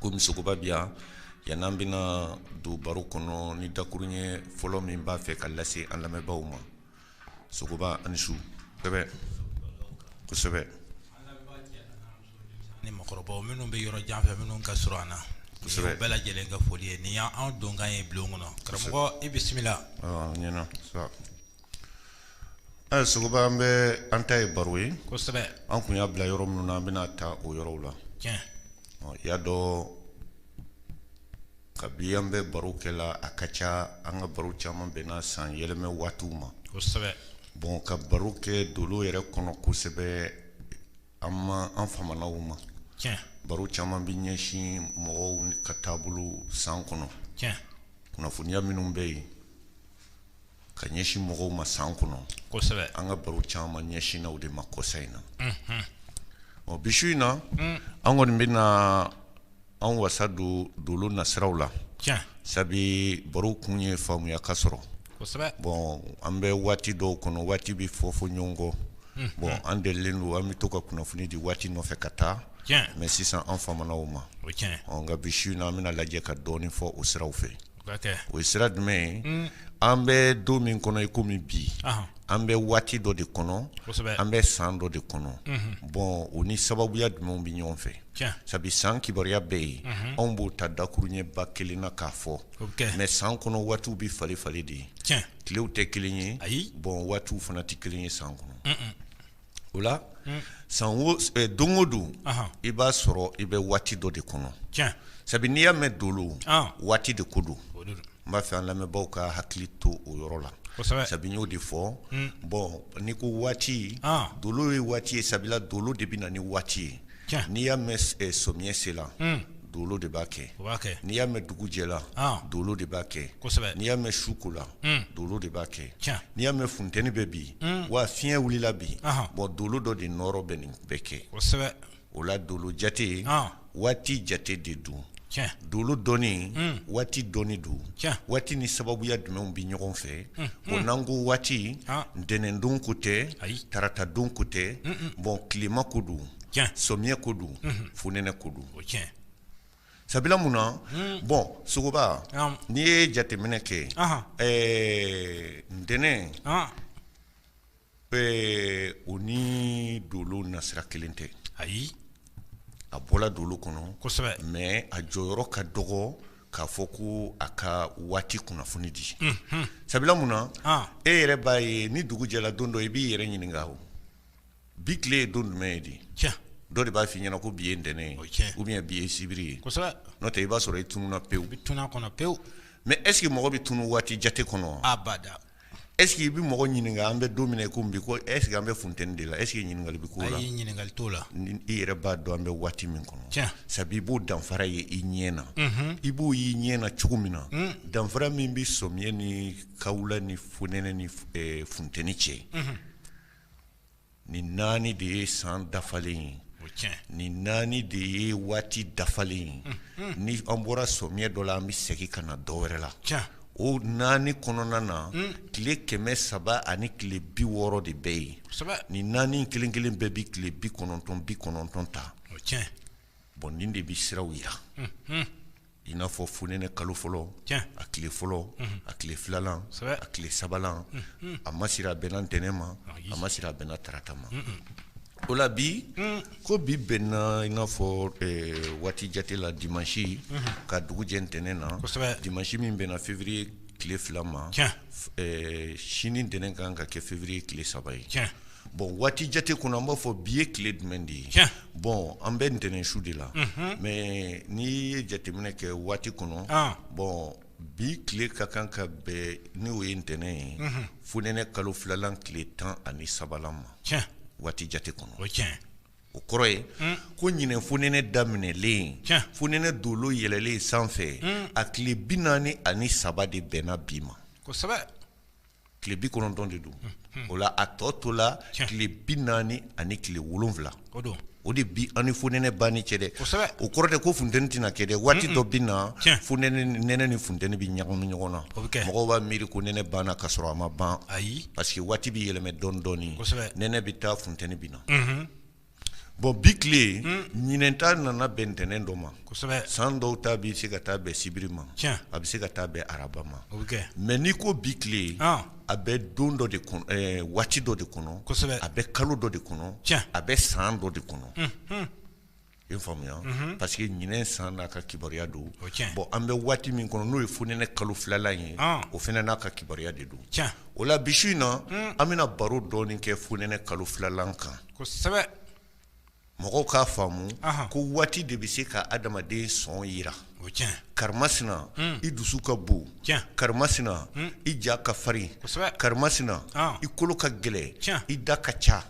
komi sogoba bi yan yan n'an bɛna don baro kɔnɔ ni dakurun ɲɛ fɔlɔ min b'a fɛ ka lase an lamɛnbaaw ma sogoba aw ni su kosɛbɛ kosɛbɛ ni mɔgɔkɔrɔbaw minnu bɛ yɔrɔ jan fɛ minnu ka surun an na kosɛbɛ bɛɛ lajɛlen ka foli ye nin y'an donkan ye bulon kɔnɔ karamɔgɔ i bisimila ɔ ɲɛna Ɛ sogoba an bɛ an ta ye baro ye kosɛbɛ an kun y'a bila yɔrɔ minnu na an bɛn'a ta o yɔrɔw la tiɲɛ ɔ y'a dɔn kabi an bɛ baro kɛ la a ka ca an ka baro caman bɛnna san yɛlɛmɛ waatiw ma kosɛbɛ bon ka baro kɛ dolo yɛrɛ kɔnɔ kosɛbɛ an ma an famana o ma tiɲɛ baro caman bɛ ɲɛsin mɔgɔw ka taabolo san kɔnɔ tiɲɛ kunnafoniya minnu bɛ yen ka ɲɛsin mɔgɔw ma san kɔnɔ kosɛbɛ an ka baro caman ɲɛsinna o de ma kɔsa in na ɔ bi su in na mm. an kɔni bɛna an wasa don dolo nasiraw la sabu baro kun ye faamuya ka sɔrɔ bɔn an bɛ waati dɔw kɔnɔ waati bɛ fɔ fɔ ɲɔgɔn kɔ mm-hmm. bɔn an delilen don an bɛ to ka kunnafoni di waati nɔfɛ ka taa mɛ sisan an famana o ma nka bi su in na an bɛna lajɛ ka dɔɔnin fɔ o siraw fɛ o ye sira jumɛn ye an bɛ don min kɔnɔ i komi bi an bɛ waati dɔ de kɔnɔ an bɛ san dɔ de kɔnɔ bɔn o ni sababuya jumɛnw bɛ ɲɔgɔn fɛ sabu san kibaruya bɛ yen anw b'o ta dakuruɲɛba kelen na k'a fɔ mɛ san kɔnɔ waatiw bɛ falen falen de ye tilew tɛ kelen ye ayi bɔn waatiw fana tɛ kelen ye san kɔnɔ o la san don o don i b'a sɔrɔ i bɛ waati dɔ de kɔnɔ sabu n'i y'a mɛn dolo waati de ko don n b'a fɛ an lamɛnbagaw ka hakili to o yɔrɔ la sabu n y'o de fɔ bɔn n'i ko waati dolo ye waati ye sabula dolo de bɛ na ni waati ye n'i y'a mɛn samiyɛ sela dolo de b'a kɛ n'i y'a mɛn dugu jɛla dolo de b'a kɛ n'i y'a mɛn su kola dolo de b'a kɛ n'i y'a mɛn funteni bɛ bi wa fiɲɛ wulila bi bɔn dolo dɔ de nɔrɔ bɛ nin bɛɛ kɛ o la dolo jate waati jate de don dolo dɔnni waati dɔnni don waati ni sababuya jumɛnw bɛ ɲɔgɔn fɛ bɔn n'an ko waati ntɛnɛn don ko tɛ tarata don ko tɛ bɔn tilema ko don samiyɛ ko don fonɛnɛ ko don sabula mun na bɔn sogoba n'i ye jateminɛ kɛ ɛɛ ntɛnɛn Ee o ni dolo nasira kelen tɛ ayi a bɔra dolo kɔnɔ mɛ a jɔyɔrɔ ka dɔgɔ k'a fɔ ko a ka waati kunnafoni di sabula mun na e yɛrɛ b'a ye ni dugu jɛra don dɔ i b'i yɛrɛ ɲininka o bi tile ye don jumɛn ye di dɔ de b'a fɔ i ɲɛna ko bi ye ntɛnɛn ye ou bien bi ye sibiri ye n'o tɛ i b'a sɔrɔ i tununna pewu pewu mɛ eseke mɔgɔ bɛ tunun waati jate kɔnɔ Eseke i bɛ mɔgɔ ɲininka an bɛ don min na i ko bi ko eseke an bɛ funteni de la eseke ɲininkali bɛ k'o la ɲininkali t'o la i yɛrɛ b'a dɔn an bɛ waati min kɔnɔ sabu i b'o danfara ye i ɲɛ na i b'o y'i ɲɛ na cogo min na danfara min bɛ somiyɛ ni kawula ni fonɛnɛ ni funteni cɛ nin naani de ye san dafalen ye nin naani de ye waati dafalen ye ni an bɔra somiyɛ dɔ la an bɛ segin ka na dɔ wɛrɛ la o naani kɔnɔna na tile kɛmɛ saba ani tile bi wɔɔrɔ de bɛ yen nin naani kelen kelen bɛɛ bɛ tile bi kɔnɔntɔn bi kɔnɔntɔn ta bɔn nin de bɛ siraw jira i n'a fɔ fonɛnɛ kalo fɔlɔ a tile fɔlɔ a tile filanan a tile sabanan a ma siri a bɛnna ntɛnɛn ma a ma siri a bɛnna tarata ma o la bi ko bi bɛnna i n'a fɔ waati jate la dimasi ka dugu jɛ ntɛnɛn na dimasi min bɛnna février tile fila ma sini ntɛnɛn kan ka kɛ février tile saba ye bon waati jate kɔnɔ an b'a fɔ bi ye tile jumɛn de ye bɔn an bɛ ntɛnɛn su de la mɛ n'i ye jateminɛ kɛ waati kɔnɔ bɔn bi tile ka kan ka bɛn n'o ye ntɛnɛn ye fonɛnɛ kalo filalan tile tan ani sabanan ma waati jate kɔnɔ o kɔrɔ ye ko ɲinɛn fonɛnɛ daminɛlen fonɛnɛ dolo yɛlɛlen sanfɛ a tile bi naani ani saba de bɛnna bi ma tile bi kɔnɔntɔn de don o la a tɔ tola tile bi naani ani tile wolonwula o de bi an ni fonɛnɛ banni cɛ dɛ o kɔrɔ tɛ ko funteni tɛna kɛ dɛ waati dɔ bɛ na fonɛnɛ nɛnɛ ni funteni bɛ ɲagami ɲɔgɔn na mɔgɔ b'a miiri ko nɛnɛ banna ka sɔrɔ a ma ban ayi parce que waati bɛ yɛlɛmɛ dɔɔni dɔɔni nɛnɛ bɛ taa funteni bɛ na Bon bi tile ɲinɛn ta nana bɛn ntɛnɛn dɔ ma san dɔ ta bɛ se ka taa bɛn sibiri ma a bɛ se ka taa bɛn araba ma mɛ n'i ko bi tile a bɛ don dɔ de waati dɔ de kɔnɔ a bɛ kalo dɔ de kɔnɔ a bɛ san dɔ de kɔnɔ i faamuya parce que ɲinɛn san n'a ka kibaruya don bɔn an bɛ waati min kɔnɔ n'o ye fonɛnɛ kalo filalan ye o fana n'a ka kibaruya de don o la bi su in na an bɛna baro dɔɔni kɛ fonɛnɛ kalo filalan kan kosɛbɛ mɔgɔw k'a faamu ko waati de bɛ se ka adamaden sɔn jira o karimasina i dusu ka bon karimasina i ja ka farin karimasina i kolo ka gɛlɛn i da ka ca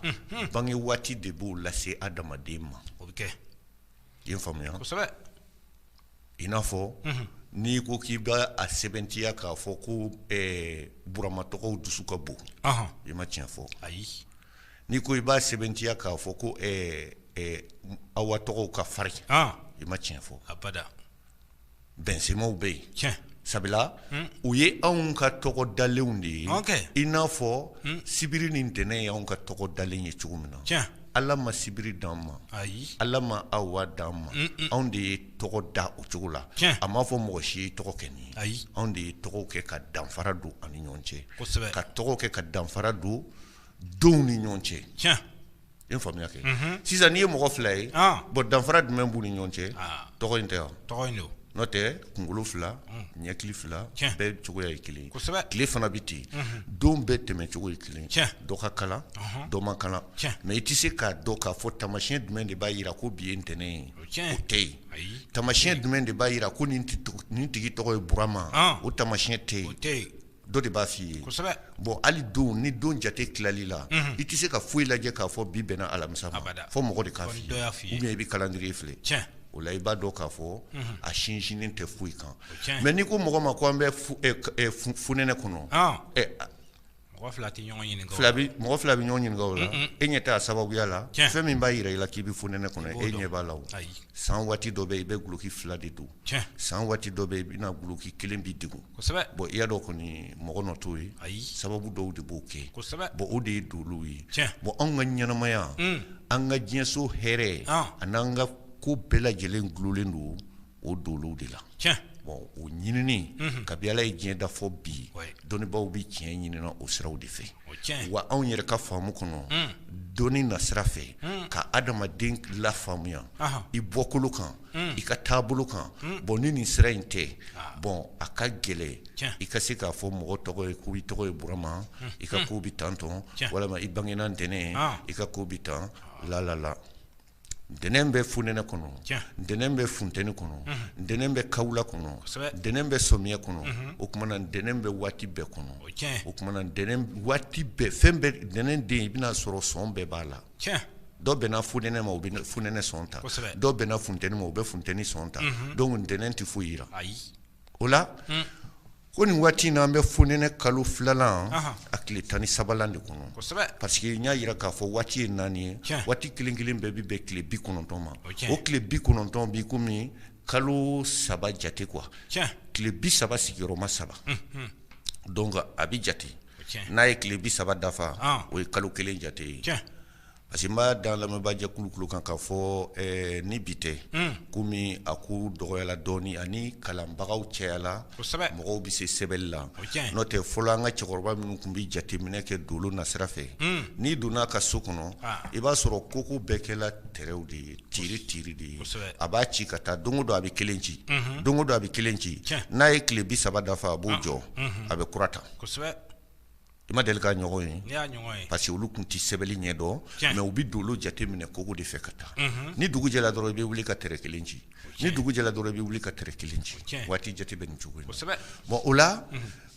bange waati de b'o lase adamaden ma o bɛ kɛ I ye faamuya kosɛbɛ i n'a fɔ n'i ko k'i b'a sɛbɛntiya k'a fɔ ko burama tɔgɔw dusu ka bon i ma tiɲɛ fɔ ayi n'i ko i b'a sɛbɛntiya k'a fɔ ko awa tɔgɔw ka farin i ma tiɲɛ fɔ abada bɛnsenmaw bɛ yen sabula u ye anw ka tɔgɔ dalenw de ye i n'a fɔ sibiri ni ntɛnɛn ye anw ka tɔgɔ dalen ye cogo min na ala ma sibiri di anw ma ala ma awa di anw ma anw de ye tɔgɔ da o cogo la a m'a fɔ mɔgɔ si ye i tɔgɔ kɛ nin ayi anw de ye tɔgɔw kɛ ka danfara don an ni ɲɔgɔn cɛ ka tɔgɔw kɛ ka danfara don donw ni ɲɔgɔn cɛ I ye faamuya kɛ sisan n'i ye mɔgɔ fila ye bɔn danfara jumɛn b'u ni ɲɔgɔn cɛ tɔgɔ in tɛ wa n'o tɛ kunkolo fila ɲɛkili fila bɛɛ cogoya ye kelen tile fana bɛ ten don bɛɛ tɛmɛcogo ye kelen dɔ ka kalan dɔ man kalan mɛ i tɛ se k'a dɔn k'a fɔ tamasiɲɛ jumɛn de b'a jira ko bi ye ntɛnɛn ye o tɛ yen tamasiɲɛ jumɛn de b'a jira ko nin tigi tɔgɔ ye burama o tamasiɲɛ tɛ yen dɔ de b'a f'i ye bɔn hali don ni don jate tilali la i tɛ se ka foyi lajɛ k'a fɔ bi bɛnna alamisa ma fɔ mɔgɔ de k'a fɔ i ye i bɛ kalandiriye filɛ o la i b'a dɔn k'a fɔ a sinsinnen tɛ foyi kan mɛ n'i ko mɔgɔ ma ko an bɛ fonɛnɛ kɔnɔ mɔgɔ fila bɛ ɲɔgɔn ɲininka o la e ɲɛ t'a sababuya la fɛn min b'a jira i la k'i bɛ fonɛnɛ kɔnɔ e ɲɛ b'a la san waati dɔ bɛ i bɛ guloki fila de don san waati dɔ bɛ i bɛna guloki kelen b'i degun bɔn i y'a dɔn kɔni mɔgɔ nɔ t'o ye sababu dɔw de b'o kɛ bɔn o de ye dolow ye bɔn anw ka ɲɛnamaya an ka diɲɛso hɛrɛ a n'an ka ko bɛɛ lajɛlen dulolen don o dolow de la bɔn o ɲinini kabi ala ye diɲɛ da fɔ bi dɔnnibaw bɛ tiɲɛ ɲini na o siraw de fɛ wa anw yɛrɛ ka faamu kɔnɔ dɔnni nasira fɛ ka adamaden lafaamuya i bɔkolo kan i ka taabolo kan bɔn ni nin sira in tɛ bɔn a ka gɛlɛn i ka se k'a fɔ mɔgɔ tɔgɔ ye ko i tɔgɔ ye burama i ka ko bɛ tan tɔn walima i bangena ntɛnɛn i ka ko bɛ tan lalala ntɛnɛn bɛ fonɛnɛ kɔnɔ ntɛnɛn bɛ funteni kɔnɔ ntɛnɛn bɛ kawula kɔnɔ ntɛnɛn bɛ sɔmiyɛ kɔnɔ o tuma na ntɛnɛn bɛ waati bɛɛ kɔnɔ o tuma waati bɛɛ fɛn bɛɛ ntɛnɛn den i bɛn'a sɔrɔ sɔn bɛɛ b'a la dɔw bɛnna fonɛnɛ ma u bɛ fonɛnɛ sɔn ta dɔw bɛnna funteni ma u bɛ funteni sɔn ta donc ntɛnɛn tɛ foyi jira o la ko nin waati in na an bɛ fonɛnɛ kalo filanan a tile tan ni saba de kɔnɔ parce que n y'a jira k'a fɔ waati ye naani ye waati kelen kelen bɛɛ bɛ bɛn tile bi kɔnɔntɔn ma o tile bi kɔnɔntɔn bi kɔmi kalo saba jate quoi tile bi saba sigiyɔrɔma saba donc a bɛ jate n'a ye tile bi saba dafa o ye kalo kelen jate ye parce que n b'a da lamɛnbaa jɛkulu kan ka fɔ ni bi tɛ komi a ko dɔgɔyala dɔɔnin ani kalanbagaw cɛyala mɔgɔw bɛ se sɛbɛnni la n'o tɛ fɔlɔ an ka cɛkɔrɔba minnu tun bɛ jateminɛ kɛ dolo nasira fɛ n'i donna a ka so kɔnɔ i b'a sɔrɔ koko bɛɛ kɛla tɛrɛw de ye tiri tiri de ye a b'a ci ka taa don o don a bɛ kelen ci don o don a bɛ kelen ci n'a ye tile bi saba dafa a b'o jɔ a bɛ kura ta i ma deli k'a ɲɔgɔn ye parce que olu tun tɛ sɛbɛnni ɲɛ dɔn mais u bɛ don jate minɛ kogo de fɛ ka taa ni dugu jɛra dɔrɔn i bɛ wuli ka tɛrɛ kelen ci ni dugu jɛra dɔrɔn i bɛ wuli ka tɛrɛ kelen ci waati jate bɛ nin cogo in na bon o la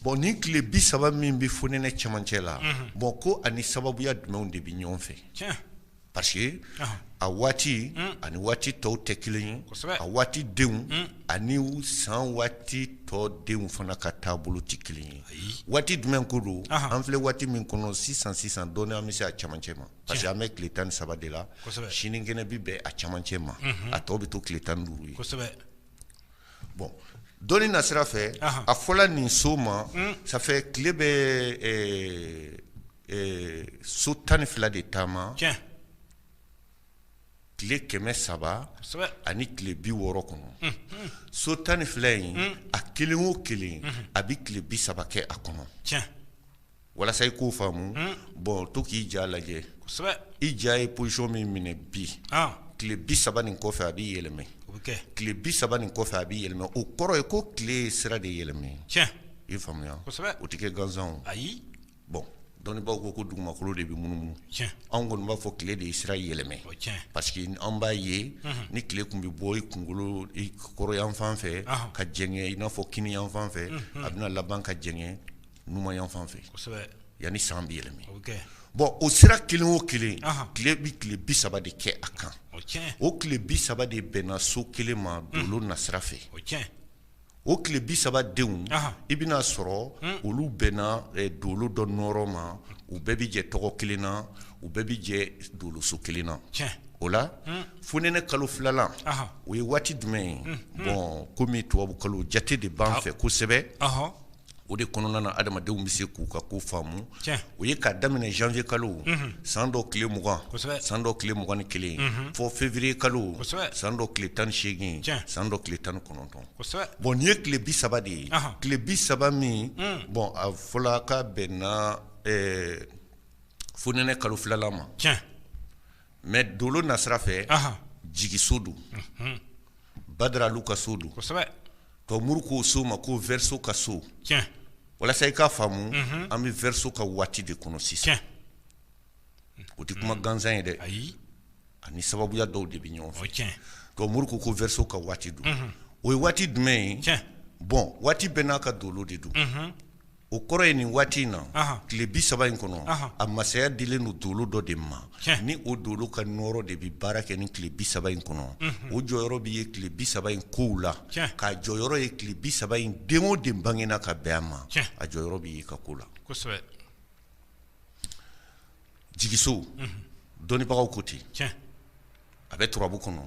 bon ni tile bi saba min bɛ fonɛnɛ cɛmancɛ la bon ko ani sababuya jumɛnw de bɛ ɲɔgɔn fɛ parce que a waati ani waati tɔw tɛ kelen ye a waati denw ani san waati tɔ denw fana ka taabolo tɛ kelen ye waati jumɛn ko don an filɛ waati min kɔnɔ sisan sisan dɔɔni an bɛ se a camancɛ ma parce que an bɛ tile tan ni saba de la sinikɛnɛ bɛ bɛn a camancɛ ma a tɔ bɛ to tile tan ni duuru ye Bon dɔnni nasira fɛ a fɔla nin so ma sanfɛ tile bɛ so tan ni fila de taama tile kɛmɛ saba ani tile bi wɔɔrɔ kɔnɔ so tan ni fila in a kelen o kelen a bɛ tile bi saba kɛ a kɔnɔ walasa i k'o faamu hmm. bon to k'i ja lajɛ i ja ye position min minɛ bi ah. tile bi saba nin kɔfɛ a b'i yɛlɛmɛ tile bi saba nin kɔfɛ a b'i yɛlɛmɛ o kɔrɔ ye ko tile sira de yɛlɛmɛ i faamuya o tɛ kɛ gansan ayi bon dɔnnibaaw ko ko dugumakolo de bɛ munumunu anw kɔni b'a fɔ tile de ye sira yɛlɛmɛ parce que an b'a ye mhm. ni tile tun bɛ bɔ i kunkolo i kɔrɔyanfan fɛ ka jɛngɛ i n'a fɔ kiniyanfan fɛ mhm. a bɛna laban ka jɛngɛ numanyanfan fɛ yanni san bɛ yɛlɛmɛ bon o sira kelen o kelen tile bɛ tile bi saba de kɛ a kan o tile bi saba de bɛnna so kelen ma dolo nasira fɛ o tile bi saba denw i bɛn'a sɔrɔ olu bɛnna dolo dɔ nɔɔrɔ ma u bɛɛ bɛ jɛ tɔgɔ kelen na u bɛɛ bɛ jɛ doloso kelen na o la fonɛnɛ kalo filalan o ye waati jumɛn ye bon komi tubabu kalo jate de b'an fɛ kosɛbɛ o de kɔnɔna na adamadenw bɛ se k'u ka ko faamu o ye k'a daminɛ janvier kalo san dɔ tile 20 san dɔ tile 21 fɔ février kalo san dɔ tile 18 san dɔ tile 19 bon nin ye tile 30 de ye tile 30 min bon a fɔla k'a bɛnna fonɛnɛ kalo filala ma. mɛ dolo nasira fɛ jigiso don badaralu ka so don tomuru k'o so ma ko verseau ka so walasa i k'a faamu an bɛ verseau ka waati de kɔnɔ sisan o tɛ kuma gansan ye dɛ ayi ani sababuya dɔw de bɛ ɲɔgɔn fɛ tomuru ko ko verseau ka waati don o ye waati jumɛn ye bɔn waati bɛɛ n'a ka dolo de don o kɔrɔ ye nin waati in na tile bi saba in kɔnɔ a masaya dilen don dolo dɔ de ma ni o dolo ka nɔɔrɔ de bɛ baara kɛ ni tile bi saba in kɔnɔ o jɔyɔrɔ bɛ ye tile bi saba in kow la k'a jɔyɔrɔ ye tile bi saba in den o den bangena ka bɛn a ma a jɔyɔrɔ bɛ ye a ka ko la jigiso dɔnnibagaw ko ten a bɛ turabu kɔnɔ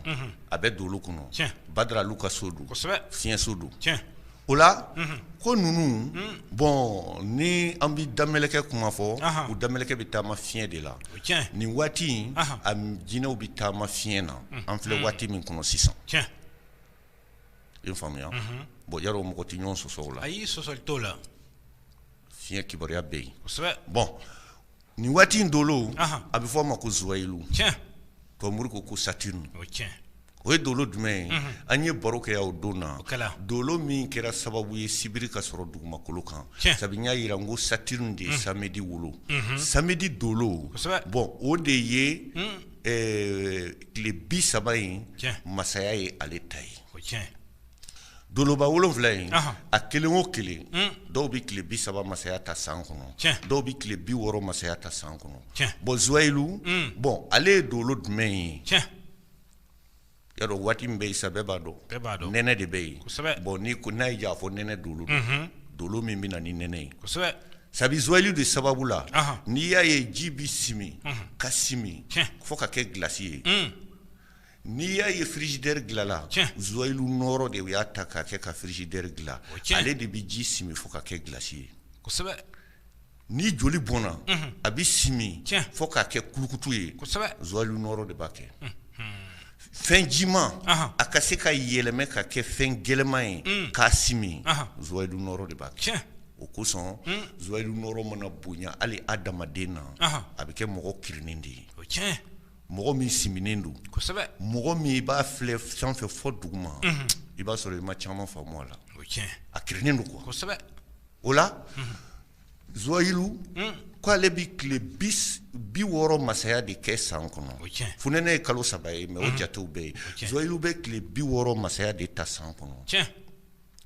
a bɛ dolo kɔnɔ badaralu ka so don fiɲɛso don o la ko ninnu bɔn ni an bɛ damɛlɛkɛ kuma fɔ u damɛlɛkɛ bɛ taama fiɲɛ de la nin waati in a jinɛw bɛ taama fiɲɛ na an filɛ waati min kɔnɔ sisan i faamuya bɔn ya mɔgɔ tɛ ɲɔgɔn sɔsɔ o la ayi sɔsɔli t'o la fiɲɛ kibaruya bɛ yen bɔn nin waati in dolo a bɛ fɔ a ma ko zuwayilu tomuru ko ko Saturne o ye dolo jumɛn ye an ye baro kɛ o don na dolo min kɛra sababu ye sibiri ka sɔrɔ dugumakolo kan sabu n y'a jira n ko Saturne de ye samedi wolo samedi dolo bɔn o de ye tile bi saba in masaya ye ale ta ye Doloba wolonwula in a kelen o kelen dɔw bɛ tile bi saba masaya ta san kɔnɔ dɔw bɛ tile bi wɔɔrɔ masaya ta san kɔnɔ bɔn zuwayilu bɔn ale ye dolo jumɛn ye ya dɔn waati min bɛ yen sa bɛɛ b'a dɔn nɛnɛ de bɛ yen bɔn n ko n'a ye j'a fɔ nɛnɛ dolo don dolo min bɛ na ni nɛnɛ ye sabu zuwayilu de sababu la n'i y'a ye ji bɛ simi ka simi fo ka kɛ gilasi ye N'i y'a ye frigidaire dilanla zuwayilu nɔrɔ de u y'a ta k'a kɛ ka frigidaire dilan ale de bɛ ji simi fo ka kɛ gilasi ye ni joli bɔnna a bɛ simi fo k'a kɛ kulukutu ye zuwayilu nɔrɔ de b'a kɛ fɛn jima a ka se ka yɛlɛmɛ ka kɛ fɛn gɛlɛma ye k'a simi zuwayilu nɔrɔ de b'a kɛ o kosɔn zuwayilu nɔrɔ mana bonya hali adamaden na a bɛ kɛ mɔgɔ kirinni de ye mɔgɔ min siminen don mɔgɔ min i b'a filɛ sanfɛ fɔ duguma i b'a sɔrɔ i ma caman faamu a la a kirinnen don quoi o la Zuwayilu ko ale bɛ tile bi wɔɔrɔ masaya de kɛ san kɔnɔ funɛnɛ ye kalo saba ye mais o jatew bɛ yen Zuwayilu bɛ tile bi wɔɔrɔ masaya de ta san kɔnɔ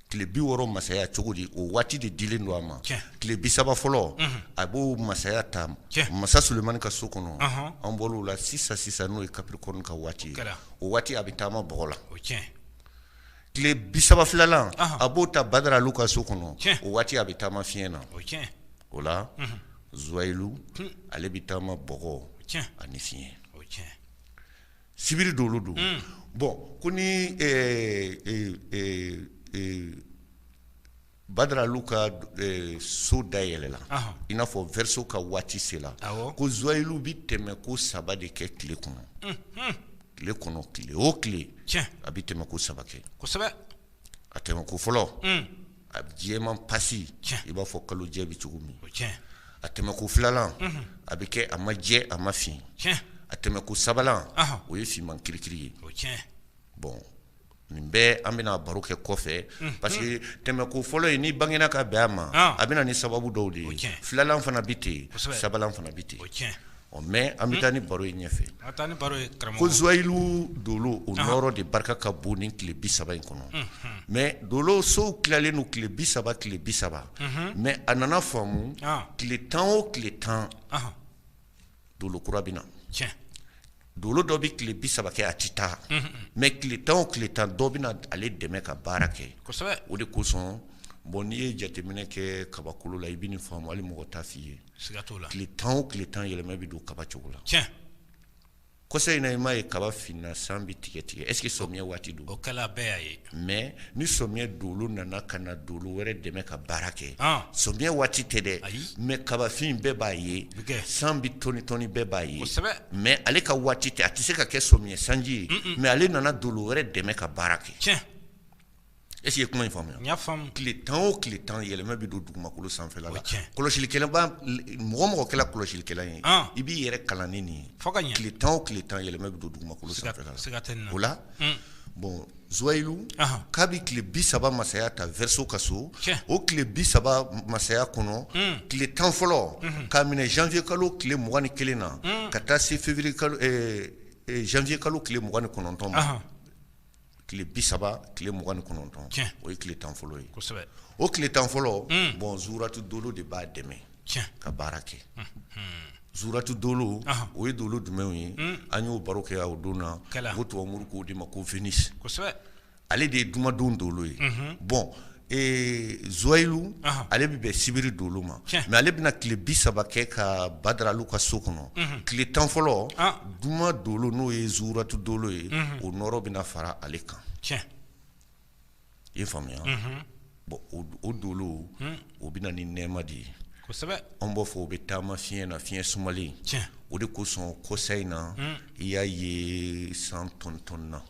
tile bi wɔɔrɔ masaya cogo di o waati de dilen don a ma tile bi saba fɔlɔ a b'o masaya ta masa Sulemani ka so kɔnɔ an bɔr'o la sisan sisan n'o ye Capricorne ka waati ye o waati a bɛ taama bɔgɔ la tile bi saba filanan a b'o ta Badaralu ka so kɔnɔ o waati a bɛ taama fiɲɛ na o la Zuwayilu ale bɛ taama bɔgɔ ani fiɲɛ Sibiri dolo don bon ko ni Badaralu ka so dayɛlɛla i n'a fɔ verseau ka waati sela ko Zuwayilu bɛ tɛmɛ ko saba de kɛ tile kɔnɔ tile kɔnɔ tile o tile a bɛ tɛmɛ ko saba kɛ a tɛmɛ ko fɔlɔ a jɛman pasi i b'a fɔ kalo jɛ bɛ cogo min a tɛmɛ ko filanan a bɛ kɛ a ma jɛ a ma fin a tɛmɛ ko sabanan o ye finman kirikiri ye bon nin bɛɛ an bɛna baro kɛ kɔfɛ parce que tɛmɛ ko fɔlɔ ye n'i bangena ka bɛn a ma a bɛ na ni sababu dɔw de ye filanan fana bɛ ten sabanan fana bɛ ten ɔ mais an bɛ taa ni baro ye ɲɛfɛ, ko Zuwayilu Dolo o nɔɔrɔ de barika ka bon ni tile 30 in kɔnɔ, mais Dolo sow tilalen don tile 30 tile 30, mais a nana faamu tile 10 o tile 10 Dolo kura bɛ na, Dolo dɔ bɛ tile 30 kɛ a tɛ taa, mais tile 10 o tile 10 dɔ bɛna ale dɛmɛ ka baara kɛ, o de kosɔn bon n'i ye jateminɛ kɛ kabakolo la i bɛ nin faamu hali mɔgɔ t'a f'i ye tile tan o tile tan yɛlɛma bɛ don kaba cogo la, kɔsa in na i m'a ye kaba finna san bɛ tigɛ tigɛ est ce que samiyɛ waati don, o kɛra bɛɛ y'a ye, mais ni samiyɛ dolo nana ka na dolo wɛrɛ dɛmɛ ka baara kɛ, samiyɛ waati tɛ dɛ, mais kabafin bɛɛ b'a ye, san bɛ tɔni tɔni bɛɛ b'a ye, mais ale ka waati tɛ a tɛ se ka kɛ samiyɛ sanji ye, mais ale nana dolo wɛrɛ dɛmɛ ka baara kɛ E ye kuma in faamuya tile tan o tile tan yɛlɛma bɛ don dugumakolo sanfɛla la kɔlɔsilikɛla mɔgɔ kɛla kɔlɔsilikɛla ye i b'i yɛrɛ kalan ni nin ye tile tan o tile tan yɛlɛma bɛ don dugumakolo sanfɛla la o la bon Zuwayilu k'a bɛ tile bi saba masaya ta verseau ka so o tile bi saba masaya kɔnɔ tile tan fɔlɔ k'a minɛ janvier kalo tile mugan ni kelen na ka taa se février janvier kalo tile mugan ni kɔnɔntɔn ma tile bi saba tile mugan ni kɔnɔntɔn o ye tile tan fɔlɔ ye o tile tan fɔlɔ hmm. bɔn zuratu dolo de b'a dɛmɛ ka baara kɛ hmm. Hmm. zuratu dolo o ye dolo jumɛnw ye an y'o baro kɛ o don na ko tubabu moriw k'o de ma ko Vénus ale de ye jumadon dolo ye bɔn Zuwayilu ale bɛ bɛn sibiri dolo ma mɛ ale bɛna tile bi saba kɛ ka Badara Alu ka so kɔnɔ tile tan fɔlɔ juma dolo n'o ye zuratu dolo ye o nɔɔrɔ bɛna fara ale kan i y'a faamuya bɔn o dolo o bɛ na ni nɛɛma de ye anw b'a fɔ o bɛ taama fiɲɛ na fiɲɛ sumalen o de kosɔn kɔsa in na i y'a ye san tɔntɔnna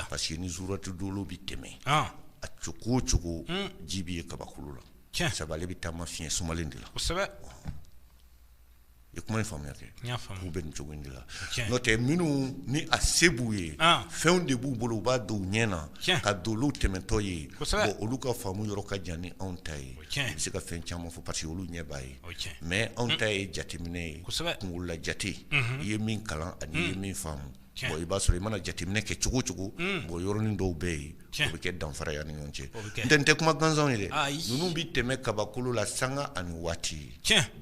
parce que ni zuratu dolo bɛ tɛmɛ a cogo o cogo ji bɛ ye kabakolo la sabu ale bɛ taama fiɲɛ sumalen de la i kuma ye faamuya kɛ k'u bɛ nin cogo de la n'o tɛ minnu ni a se b'u ye fɛnw de b'u bolo u b'a don u ɲɛ na ka dolow tɛmɛtɔ ye olu ka faamu yɔrɔ ka jan ni anw ta ye u bɛ se ka fɛn caman fɔ parce que olu ɲɛ b'a ye mɛ anw ta ye jateminɛ ye kunla jate i ye min kalan ani i ye min faamu i b'a sɔrɔ i mana jateminɛ kɛ cogo o cogo bɔn yɔrɔnin dɔw bɛ yen o bɛ kɛ danfara ye an ni ɲɔgɔn cɛ nin tɛ kuma gansan ye dɛ ninnu bɛ tɛmɛ kabakolo la sanga ani waati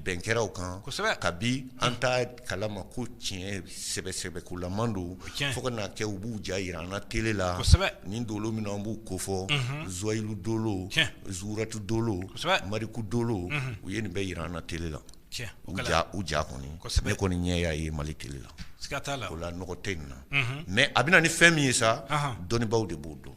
bɛn kɛra o kan kabi an t'a kalama ko tiɲɛ sɛbɛ sɛbɛkolaman don fo ka n'a kɛ u b'u ja jira an na tele la nin dolo minnu an b'u kofɔ zuwayilu dolo zuratu dolo mariku dolo u ye nin bɛɛ jira an na tele la U u ja kɔni ne kɔni ɲɛ y'a ye Mali tele la o la nɔgɔ tɛ nin na mɛ a bɛ na ni fɛn min ye sa dɔnnibaw de b'o dɔn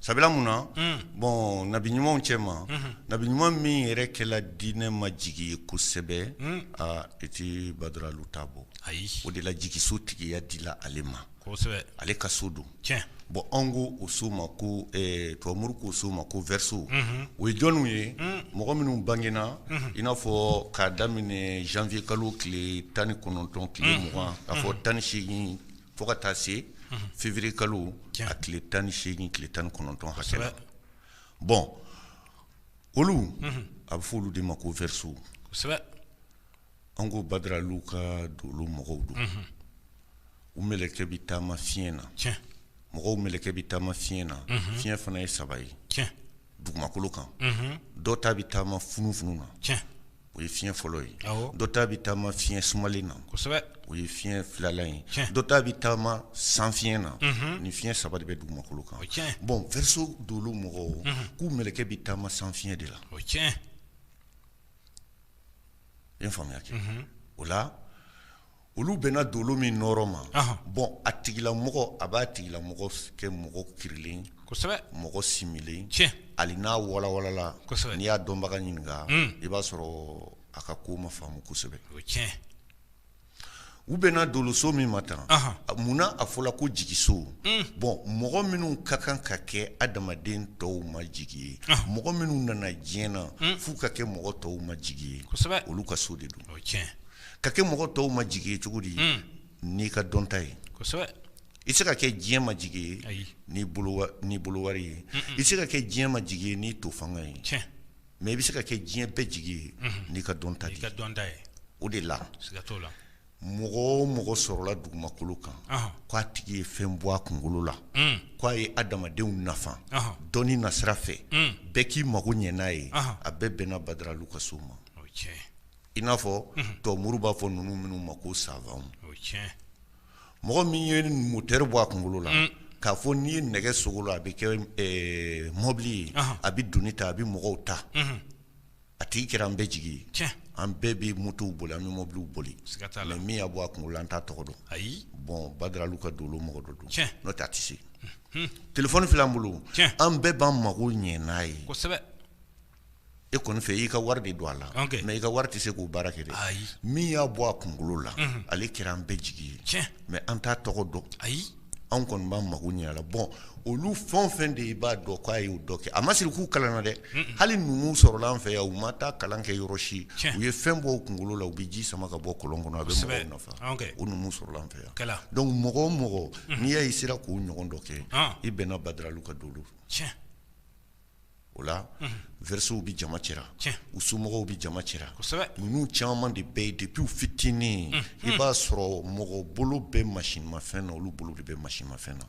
sabula mun na bɔn nabi ɲumanw cɛ ma nabi ɲuman min yɛrɛ kɛla diinɛ ma jigi ye kosɛbɛ aa i tɛ Badara Alu ta bɔ ayi o de la jigiso tigiya dila ale ma ale ka so don bɔn anw ko o so ma ko tubabu moriw k'o so ma ko verseau o ye jɔnw ye mɔgɔ minnu bangena i n'a fɔ k'a daminɛ janvier kalo tile tan ni kɔnɔntɔn tile mugan k'a fɔ tan ni seegin fo ka taa se février kalo a tile 18 tile 19 hakɛ la bon olu a bɛ fɔ olu de ma ko verseaux kosɛbɛ an ko Badara Alu ka dolo mɔgɔw don u mɛlɛkɛ bɛ taama fiɲɛ na mɔgɔw mɛlɛkɛ bɛ taama fiɲɛ na fiɲɛ fana ye saba ye dugumakolo kan dɔ ta bɛ taama funufunu na o ye fiɲɛ fɔlɔ ye dɔ ta bɛ taama fiɲɛ sumalen na o ye fiɲɛ filanan ye dɔ ta bɛ taama san fiɲɛ na ni fiɲɛ saba de bɛ dugumakolo kan bɔn vɛriso dolo mɔgɔw k'u mɛlɛkɛ bɛ taama san fiɲɛ de la i ye faamuya kɛ o la olu bɛnna dolo min nɔɔrɔ ma bɔn a tigilamɔgɔ a b'a tigilamɔgɔ kɛ mɔgɔ kirilen mɔgɔ similen ali n'a walawalala n'i y'a dɔnbaga ɲininka i b'a sɔrɔ a ka ko ma faamu kosɛbɛ u bɛnna doloso min ma tan munna a fɔla ko jigiso bɔn mɔgɔ minnu ka kan ka kɛ adamaden tɔw ma jigi ye mɔgɔ minnu nana diɲɛ na f'u ka kɛ mɔgɔ tɔw ma jigi ye olu ka so de don ka kɛ mɔgɔ tɔw ma jigi ye cogo di n'i ka dɔnta ye i se ka kɛ diɲɛ ma jigi ye n'i bolo wari ye i se ka kɛ diɲɛ ma jigi ye n'i to fanga ye mɛ i bɛ se ka kɛ diɲɛ bɛɛ jigi ye n'i ka dɔnta dɔnta ye o de la mɔgɔ o mɔgɔ sɔrɔla dugumakolo kan k'a tigi ye fɛn bɔ a kunkolo la k'a ye adamadenw nafa dɔnni nasira fɛ bɛɛ k'i mago ɲɛ n'a ye a bɛɛ bɛnna badaralu ka so ma I n'a fɔ tubabu b'a fɔ ninnu minnu ma ko savan mɔgɔ min ye mɔtɛri bɔ a kunkolo la k'a fɔ n'i ye nɛgɛ sogolon a bɛ kɛ mɔbili ye a bɛ doni ta a bɛ mɔgɔw ta a tigi kɛra an bɛɛ jigi ye an bɛɛ bɛ motow boli an bɛ mɔbiliw boli mɛ min y'a bɔ a kunkolo la an t'a tɔgɔ dɔn ayi bɔn badaralu ka dolo mɔgɔ dɔ don n'o tɛ a tɛ se telefɔni filɛ an bolo an bɛɛ b'an mago ɲɛ n'a ye e kɔni fɛ i ka wari de don a la mɛ i ka wari tɛ se k'o baara kɛ ayi min y'a bɔ a kunkolo la ale kɛra an bɛɛ jigi ye tiɲɛ mɛ an t'a tɔgɔ dɔn ayi anw kɔni b'an mago ɲɛ a la bɔn olu fɛn o fɛn de i b'a dɔn k'a y'o dɔ kɛ a ma siri k'u kalanna dɛ hali numu sɔrɔla an fɛ yan u ma taa kalan kɛ yɔrɔ si u ye fɛn bɔ u kunkolo la u bɛ ji sama ka bɔ kɔlɔn kɔnɔ a bɛ mɔgɔw nafa o numu sɔrɔla an fɛ yan dɔnku mɔgɔ o mɔgɔ n'i y'a ye sera k'o ɲɔgɔn dɔ kɛ i bɛnna badaralu ka dolo o la vɛrisow bɛ jama cɛra u somɔgɔw bɛ jama cɛra ninnu caman de bɛ yen depi u fitinin i b'a sɔrɔ mɔgɔ bolo bɛ mamafɛn na olu bolo de bɛ mamafɛn na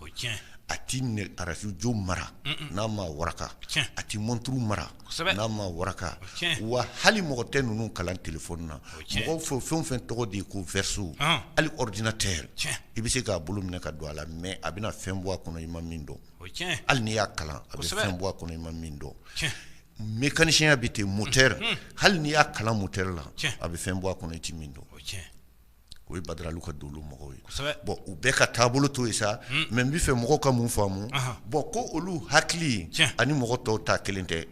a tɛ arajo mara n'a ma waraka a tɛ mɔnturu mara n'a ma waraka wa hali mɔgɔ tɛ ninnu kalan telefɔni na mɔgɔw fɛ fɛn o fɛn tɔgɔ de ye ko vɛriso hali ɔridinatɛri i bɛ se k'a bolo minɛ ka don a la mɛ a bɛna fɛn bɔ a kɔnɔ i ma min dɔn hali n'i y'a kalan a bɛ fɛn bɔ a kɔnɔ i ma min dɔn mekanisiya bɛ ten mɔtɛri hali n'i y'a kalan mɔtɛri la a bɛ fɛn bɔ a kɔnɔ i tɛ min dɔn o ye badaralu ka dolo mɔgɔw ye bɔn u bɛɛ ka taabolo to yen sa mɛ n bɛ fɛ mɔgɔw ka mun faamu bɔn ko olu hakili ani mɔgɔ tɔw ta kelen tɛ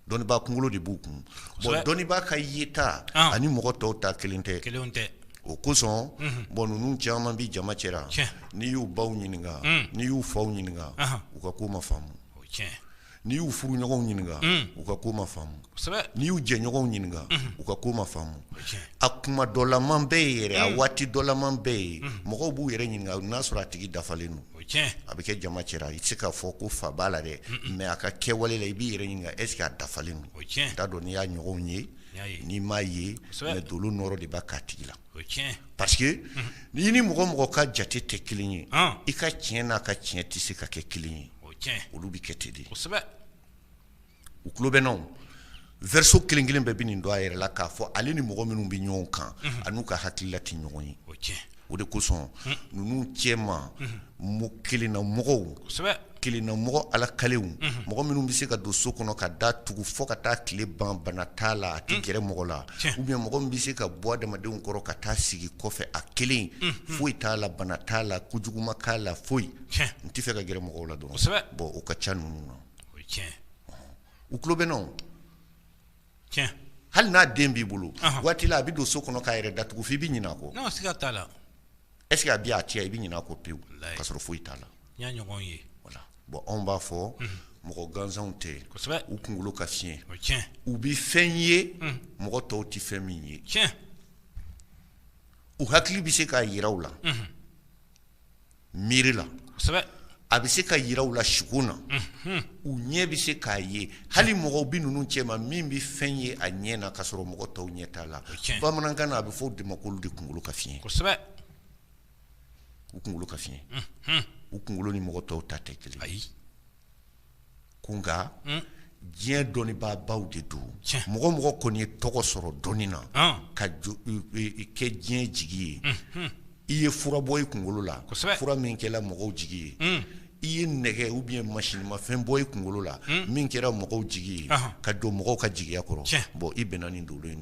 dɔnnibaa kunkolo de b'u kun bɔn dɔnnibaa ka yeta ani mɔgɔ tɔw ta kelen tɛ o kosɔn bɔn ninnu caman bɛ jama cɛra n'i y'u baw ɲininka n'i y'u faw ɲininka u ka ko ma faamu n'i y'u furuɲɔgɔnw ɲininka u ka ko ma faamu n'i y'u jɛɲɔgɔnw ɲininka u ka ko ma faamu a kuma dɔlama bɛɛ ye yɛrɛ a waati dɔlama bɛɛ ye mɔgɔw b'u yɛrɛ ɲininka n'a sɔrɔ a tigi dafalen don a bɛ kɛ jama cɛra i tɛ se k'a fɔ ko fa b'a la dɛ mɛ a ka kɛwale la i b'i yɛrɛ ɲininka est-ce que a dafalen don n t'a dɔn n'i y'a ɲɔgɔnw ye n'i m'a ye mɛ dolo nɔrɔ de b'a k'a tigi la parce que n'i ni mɔgɔ o mɔgɔ ka jate tɛ kelen ye i ka tiɲɛ n'a ka tiɲɛ tɛ se ka kɛ kelen ye olu bɛ kɛ ten de u tulo bɛ n na verseau kelen kelen bɛɛ bɛ nin dɔn a yɛrɛ la k'a fɔ ale ni mɔgɔ minnu bɛ ɲɔgɔn kan a n'u ka hakilila tɛ ɲɔgɔn ye o de kosɔn ninnu cɛma mo kelennamɔgɔw kelennamɔgɔ ala kaliw mɔgɔ minnu bɛ se ka don so kɔnɔ ka da tugu fo ka taa tile ban bana t'a la a tɛ gɛrɛ mɔgɔ la ou bien mɔgɔ min bɛ se ka bɔ adamadenw kɔrɔ ka taa sigi kɔfɛ a kelen foyi t'a la bana t'a la kojugu ma k'a la foyi n tɛ fɛ ka gɛrɛ mɔgɔw la dɔrɔn bɔn u ka ca ninnu na o tiɲɛ u tulo bɛ n na o tiɲɛ hali n'a den b'i bolo waati la a bɛ don so kɔnɔ k'a yɛrɛ da tugu f'i bɛ ɲinɛ a kɔ siga t'a la est-ce que a bɛ yan cɛ i bɛ ɲinɛ a kɔ pewu ka sɔrɔ foyi t'a la n y'a ɲɔgɔn ye bɔn anw b'a fɔ mɔgɔ gansanw tɛ u kunkolo ka fiɲɛ u bɛ fɛn ye mɔgɔ tɔw tɛ fɛn min ye u hakili bɛ se k'a yira u la miiri la a bɛ se ka yira u la sugo na u ɲɛ bɛ se k'a ye hali mɔgɔw bɛ ninnu cɛma min bɛ fɛn ye a ɲɛ na ka sɔrɔ mɔgɔ tɔw ɲɛ t'a la bamanankan na a bɛ fɔ o de ma k'olu de kunkolo ka fiɲɛ u kunkolo ka fiɲɛ u kunkolo ni mɔgɔ tɔw ta tɛ kelen ayi. ko nka diɲɛ dɔnnibaabaw de don mɔgɔ o mɔgɔ kɔni ye tɔgɔ sɔrɔ dɔnni na ka kɛ diɲɛ jigi ye i ye fura bɔ i kunkolo la fura min kɛra mɔgɔw jigi ye i ye nɛgɛ ou bien masinmafɛn bɔ i kunkolo la min kɛra mɔgɔw jigi ye ka jɔ mɔgɔw ka jigiya kɔrɔ bɔn i bɛnna nin dolo in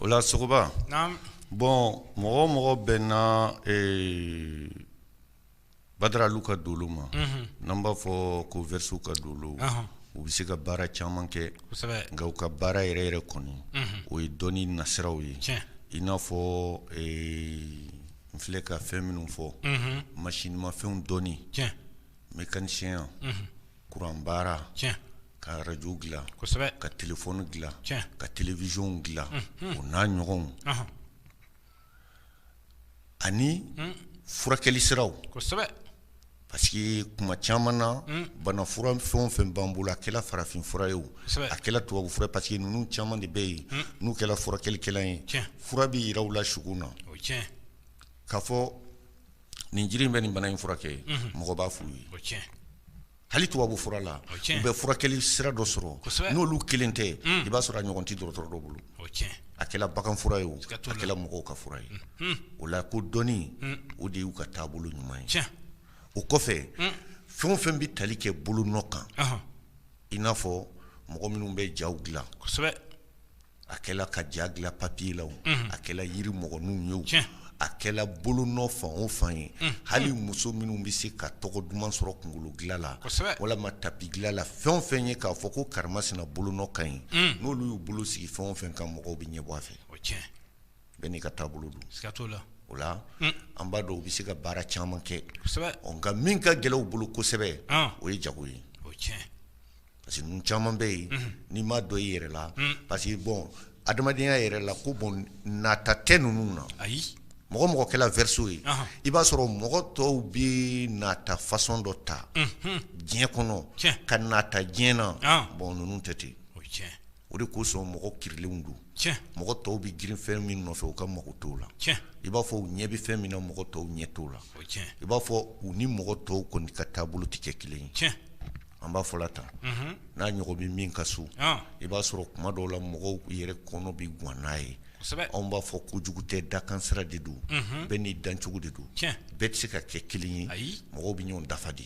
o la sogoba bɔn mɔgɔ o mɔgɔ bɛnna badaralu ka dolo ma n'an b'a fɔ ko verseau ka dolo u bɛ se ka baara caman kɛ nka u ka baara yɛrɛ yɛrɛ kɔni o ye dɔnni nasiraw ye i n'a fɔ n filɛ ka fɛn minnu fɔ masinmafɛnw dɔnni mekanisiyɛnya kuran baara tiɲɛ ka radio dilan kosɛbɛ ka téléphone dilan tiɲɛ ka télévision dilan o n'a ɲɔgɔnw ɔnhɔn ani furakɛli siraw kosɛbɛ parce que kuma caman na bana fura fɛn o fɛn b'an bolo a kɛla farafin fura ye o Kosɛbɛ. a kɛla tubabu fura ye parce que ninnu caman de bɛ yen n'u kɛla furakɛlikɛla ye Tiɲɛ. fura bɛ yira u la sugo na o ye tiɲɛ k'a fɔ nin jiri in bɛ nin bana in furakɛ mɔgɔ b'a f'u ye hali tubabu fura la u bɛ furakɛli sira dɔ sɔrɔ n'olu kelen tɛ i b'a sɔrɔ a ɲɔgɔn tɛ dɔgɔtɔrɔ dɔ bolo a kɛla bagan fura ye o a kɛla mɔgɔw ka fura ye o la ko dɔnni o de y'u ka taabolo ɲuman ye o kɔfɛ fɛn o fɛn bɛ tali kɛ bolonɔ kan i n'a fɔ mɔgɔ minnu bɛ jaw dilan a kɛla ka ja dilan papier la o, unhun, a kɛla yiri mɔgɔninw ye o, tiɲɛ, a kɛla bolonɔ fan o fan ye, unhun, hali muso minnu bɛ se ka tɔgɔ duman sɔrɔ kunkolo dilan la, kosɛbɛ, walima tapi dilan la fɛn o fɛn ye k'a fɔ ko karimasina bolonɔ ka ɲi, un, n'olu y'u bolo sigi fɛn o fɛn kan mɔgɔw bɛ ɲɛbɔ a fɛ, o ye tiɲɛ ye, bɛɛ n'i ka taabolo don, siga t'o la, o la, un, an b'a dɔn u bɛ se ka baara caman kɛ, kosɛbɛ, ɔ nka min ka gɛlɛn u bolo kosɛbɛ, an, o ye jago ye, o ye tiɲɛ ye. parce que ninnu caman bɛ yen n'i m'a dɔn i yɛrɛ la parce que bon adamadenya yɛrɛ la ko bon nata tɛ ninnu na ayi mɔgɔ mɔgɔ kɛla verseau ye i b'a sɔrɔ mɔgɔ tɔw bɛ nata façon dɔ ta diɲɛ kɔnɔ ka nata diɲɛ na bon ninnu tɛ ten o de kosɔn mɔgɔ kiiririlen don mɔgɔ tɔw bɛ girin fɛn min nɔfɛ u ka mago t'o la i b'a fɔ u ɲɛ bɛ fɛn min na mɔgɔ tɔw ɲɛ t'o la i b'a fɔ u ni mɔgɔ tɔw kɔni ka taabolo tɛ kɛ kelen ye an b'a fɔ la tan n'a ɲɔgɔn bɛ min ka so i b'a sɔrɔ kuma dɔw la mɔgɔw yɛrɛ kɔnɔ bɛ gan n'a ye anw b'a fɔ kojugu tɛ dakansira de don bɛɛ n'i dancogo de don bɛɛ tɛ se ka kɛ kelen ye mɔgɔw bɛ ɲɔgɔn dafa de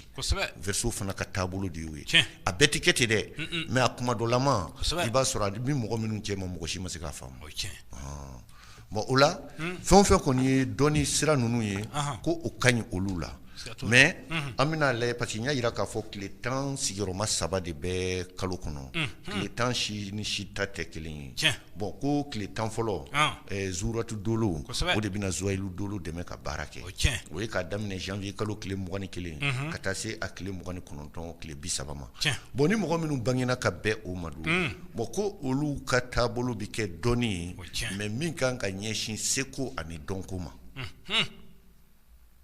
verseau fana ka taabolo de y'o ye a bɛɛ tɛ kɛ ten dɛ mais a kuma dɔ la ma i b'a sɔrɔ a bɛ mɔgɔ minnu cɛ ma mɔgɔ si ma se k'a faamu bon o la fɛn o fɛn kɔni ye dɔnni sira ninnu ye ko o ka ɲi olu la mais an bɛn'a lajɛ parce que n y'a yira k'a fɔ tile tan sigiyɔrɔma saba de bɛ kalo kɔnɔ tile tan si ni si ta tɛ kelen ye bon ko tile tan fɔlɔ zuuratu dolo o de bɛna zuwayilu dolo dɛmɛ ka baara kɛ o ye k'a daminɛ janvier kalo tile mugan ni kelen ka taa se a tile mugan ni kɔnɔntɔn tile bi saba ma bon ni mɔgɔ minnu bangena ka bɛn o ma dun bon ko olu ka taabolo bɛ kɛ dɔnni ye mɛ min kan ka ɲɛsin seko ani dɔnko ma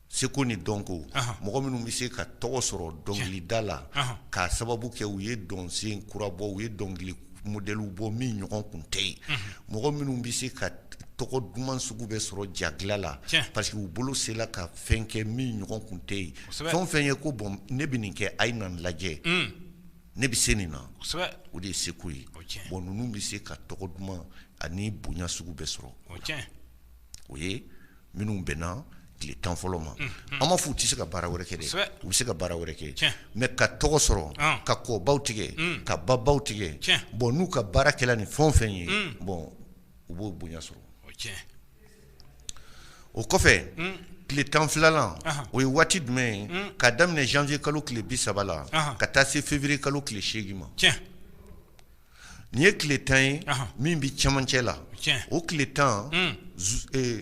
seko ni dɔnko mɔgɔ minnu bɛ se ka tɔgɔ sɔrɔ dɔnkilida la k'a sababu kɛ u ye dɔnsen kura bɔ u ye dɔnkili modɛli bɔ min ɲɔgɔn tun tɛ yen mɔgɔ minnu bɛ se ka tɔgɔ duman sugu bɛɛ sɔrɔ ja dilan la parce que u bolo sela ka fɛn kɛ min ɲɔgɔn tun tɛ yen fɛn fɛn ye ko bɔn ne bɛ nin kɛ a ye na lajɛ ne bɛ se nin na o de ye seko ye bon ninnu bɛ se ka tɔgɔ duman ani bonya sugu bɛɛ sɔrɔ o ye minnu bɛnna tile tan fɔlɔ ma an ma fɔ u tɛ se ka baara wɛrɛ kɛ dɛ u bɛ se ka baara wɛrɛ kɛ mɛ ka tɔgɔ sɔrɔ ka kɔbaw tigɛ ka babaw tigɛ bɔn n'u ka baara kɛla ni fɛn fɛn ye bɔn u b'o bonya sɔrɔ o kɔfɛ tile tan filanan o ye waati jumɛn ye ka daminɛ janvier kalo tile bi saba la ka taa se février kalo tile seegin ma nin ye tile tan ye min bɛ cɛmancɛ la o tile tan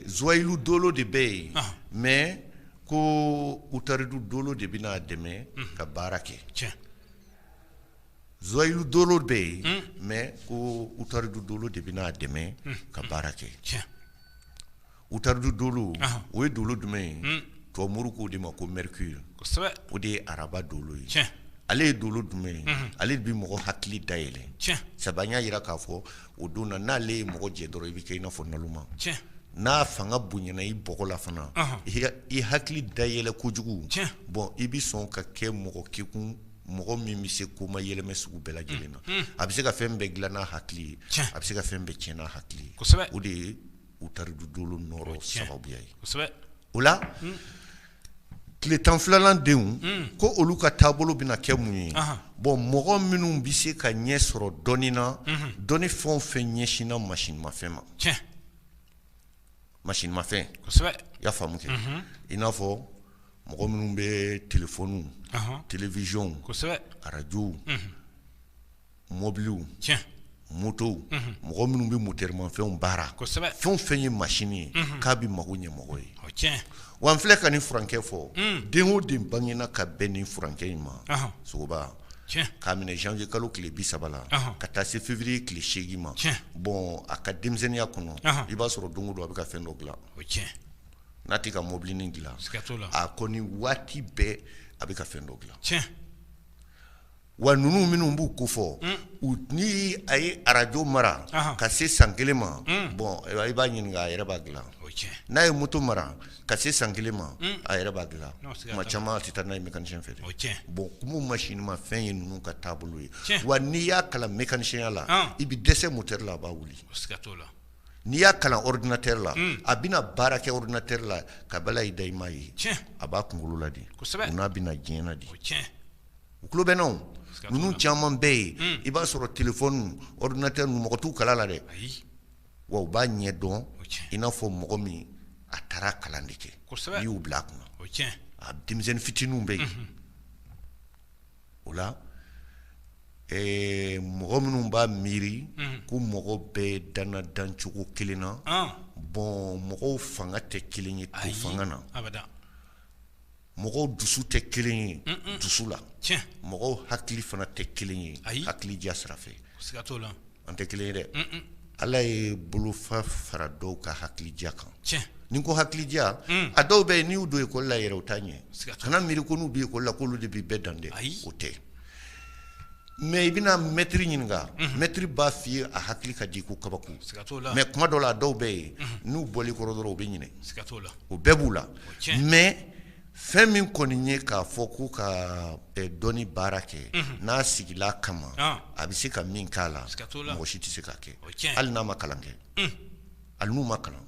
zoyilu dolo de bɛ yen mɛ ko utaridu dolo de bɛn'a dɛmɛ ka baara kɛ zoyilu dolo bɛ yen mɛ ko utaridu dolo de bɛn'a dɛmɛ ka baara kɛ utaridu dolo o ye dolo jumɛn ye tubabu k'o de ma ko mercure o de ye araba dolo ye ale ye dolo jumɛn ye ale de bɛ mɔgɔ hakili dayɛlɛ sabu an y'a jira k'a fɔ o don na n'ale ye mɔgɔ jɛ dɔrɔn i bɛ kɛ i n'a fɔ naloma n'a fanga bonyana i bɔgɔ la fana i hakili dayɛlɛ kojugu bɔn i bɛ sɔn ka kɛ mɔgɔ kekun mɔgɔ min bɛ se ko mayɛlɛmɛ sugu bɛɛ lajɛlen na a bɛ se ka fɛn bɛɛ dilan n'a hakili ye a bɛ se ka fɛn bɛɛ tiɲɛ n'a hakili ye o de ye utaridu dolo nɔrɔ sababuya ye o la tile tan filanan denw ko olu ka taabolo bɛna kɛ mun ye bɔn mɔgɔ minnu bɛ se ka ɲɛ sɔrɔ dɔnni na dɔnni fɛn fɛn ɲɛsinna masinmafɛn ma masinmafɛn i y'a faamu kɛ i n'a fɔ mɔgɔ minnu bɛ telefɔni telewizɔn arajow mɔbili moto mɔgɔ minnu bɛ motɛrimafɛnw baara fɛn fɛn ye masin ye k'a bɛ mako ɲɛ mɔgɔ ye wa n filɛ ka nin furankɛ fɔ den o den bangena ka bɛn nin furankɛ in ma sogo k'a minɛ janvier kalo tile 30 la ka taa se février tile 8 ma bon a ka denmisɛnninya kɔnɔ i b'a sɔrɔ don o don a bɛ ka fɛn dɔ dilan n'a tɛ ka mobilinin dilan a kɔni waati bɛɛ a bɛ ka fɛn dɔ dilan wa ninnu minnu n b'u kofɔ ni a ye arajo mara ka se san kelen ma bɔn i b'a ɲininka a yɛrɛ b'a dilan n'a ye moto mara Ka se san kelen ma a yɛrɛ b'a dilan tuma caman a tɛ taa n'a ye mekanisiyɛn fɛ bon ko masinimafɛn ye ninnu ka taabolo ye wa n'i y'a kalan mekanisiyɛnya la i bɛ dɛsɛ motɛri la a b'a wuli n'i y'a kalan ɔridinatɛri la a bɛna baara kɛ ɔridinatɛri la ka bala i la i m'a ye a b'a kunkolo la de o n'a bɛ na diɲɛ na de u tulo bɛ n na ninnu caman bɛ yen i b'a sɔrɔ telefɔni ɔridinatɛri mɔgɔ t'u kalan la dɛ wa u b'a ɲɛ dɔn i n'a fɔ mɔgɔ min a taara kalan de kɛ i y'u bila a kunna a denmisɛnnin fitininw bɛ yen o la mɔgɔ minnu b'a miiri ko mɔgɔ bɛɛ danna dancogo kelen na bon mɔgɔw fanga tɛ kelen ye to fanga na mɔgɔw dusu tɛ kelen ye dusu la mɔgɔw hakili fana tɛ kelen ye hakili diya sira fɛ an tɛ kelen ye dɛ ala ye bolofa fara dɔw ka hakili diya kan ni ko hakili diya a dɔw bɛ yen n'i y'u don ekɔli la yɛrɛ u t'a ɲɛ kana miiri ko n'u bɛ ekɔli la k'olu de bɛ bɛɛ dan dɛ o tɛ mɛ i bɛna mɛtiri ɲininka mɛtiri b'a f'i ye a hakili ka di ko kabako mɛ kuma dɔ la dɔw bɛ yen n'u bɔl'i kɔrɔ dɔrɔn u bɛ ɲinɛ o bɛɛ b'u la mɛ fɛn min kɔni ye k'a fɔ ko ka dɔnni baara kɛ n'a sigila kama a bɛ se ka min k'a la mɔgɔ si tɛ se ka kɛ hali n'a ma kalan kɛ hali n'u ma kalan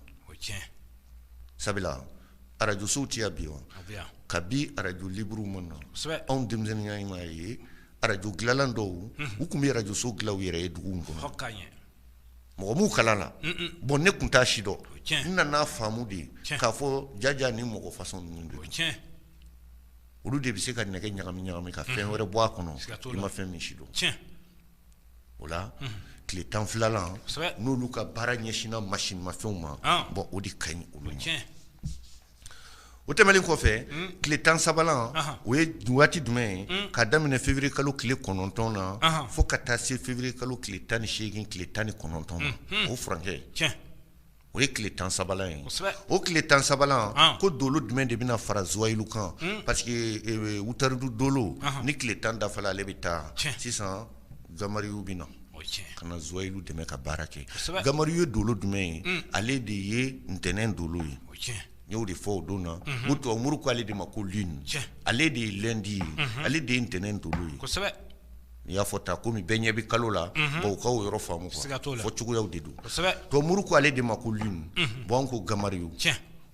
sabula arajosow tɛ yan bi wa kabi arajo libre ma na anw denmisɛnninya tuma ye arajo dilanla dɔw u tun bɛ arajoso dilan u yɛrɛ ye dugu in kɔnɔ mɔgɔ m'u kalan na bon ne tun t'a sidɔn n nana faamu de k'a fɔ jaja ni mɔgɔ fasɔn ninnu don olu de bɛ se ka nɛgɛ ɲagami ɲagami ka fɛn wɛrɛ bɔ a kɔnɔ i ma fɛn min sidɔn o la tile tan filanan n'olu ka baara ɲɛsinna masinimafɛnw ma bon o de ka ɲi olu O tɛmɛlen kɔfɛ tile tan sabanan o ye waati jumɛn ye ka daminɛ feburuye kalo tile kɔnɔntɔn na fo ka taa se feburuye kalo tile tan ni seegin tile tan ni kɔnɔntɔn ma o furankɛ o ye tile tan sabanan ye o tile tan sabanan ko dolo jumɛn de bɛna fara Zuwayilu kan parce que Wutaridu dolo ni tile tan dafala ale bɛ taa sisan Gamariyu bɛ na ka na Zuwayilu dɛmɛ ka baara kɛ Gamariyu ye dolo jumɛn ye ale de ye ntɛnɛn dolo ye n y'o de fɔ o don na o tubabumuru k' ale de ma ko lune ale de ye lundi ye ale de ye ntɛnɛn dolo ye n'i y'a fɔ ta komi bɛɛ ɲɛ bɛ kalo la bon u ka o yɔrɔ faamu fɔ cogoyaw de don tubabumuru ko ale de ma ko lune bon ko Gamariyu